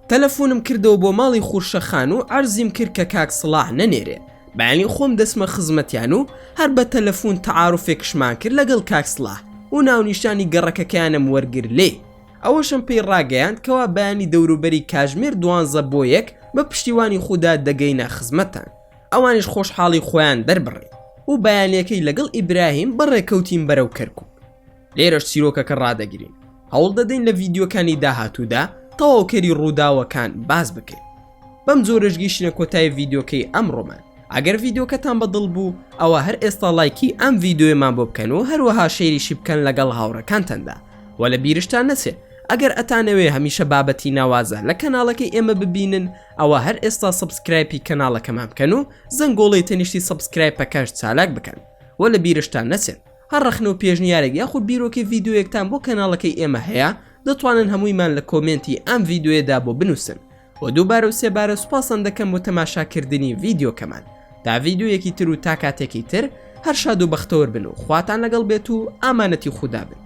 تەلەفۆنم کردەوە بۆ ماڵی خورشە خان و عەرزیم کرد کە کاک سڵاح نەنێرێ بەیانی خۆم دەسمە خزمەتیان و هەر بە تەلەفۆن تەعاعرفێکشمان کرد لەگەڵ کاک سڵاح و ناونیشانی گەڕەکەکەیانم وەرگر لێ ئەوەشم پێی ڕاگەیاند کەوا بەیانی دەوروبەری کاژمێر دوانزە بۆ یەک بە پشتیوانی خودا دەگەینە خزمەتتان ئەوانیش خۆشحاڵی خۆیان دەربڕی و بەیانیەکەی لەگەڵ ئیبراهیم بەڕێکەوتین بەرەو کەرکوک لێرەش چیرۆکەکە ڕادەگرین هەوڵ دەدەین لە ڤیدیۆکانی داهاتوودا تەواوکەری ڕووداوەکان باس بکەین بەم جۆرەش گیشتە کۆتای ڤیدۆکەی ئەم ڕۆمان ئەگەر ڤیدۆکەتان بەدڵ بوو ئەوە هەر ئێستا لایکی ئەم ڤیددیوێمان بۆ بکەن و هەروەها شێریشی بکەن لەگەڵ هاوڕەکانتەندا وە لە بیرشتان نەچێت ئەگەر ئەتانەوێ هەمیشە بابەتی ناوازە لە کەناڵەکەی ئێمە ببینن ئەوە هەر ئێستا سبسکرایپی کەناڵەکەمان بکەن و زەنگۆڵی تەنیشتی سبسکرایپەکەش چالاک بکەن وە لە بیرشتان نەچێت هەر ڕەخنە و پێشنیارێک یاخود بیرۆکی ڤیددیوەکتان بۆ کەناڵەکەی ئێمە هەیە دەتوانن هەموویمان لە کۆمنتی ئەم ڤیددیوێدا بۆ بنووسن بۆ دووبارە و سێبارە سوپاستان دەکەم بۆ تەماشاکردنی ڤیدیۆکەمان تا ڤیدیۆیەکی تر و تا کاتێکی تر هەر شاد و بەختەوەر بن و خواتان لەگەڵ بێت و ئامانەتی خودا بن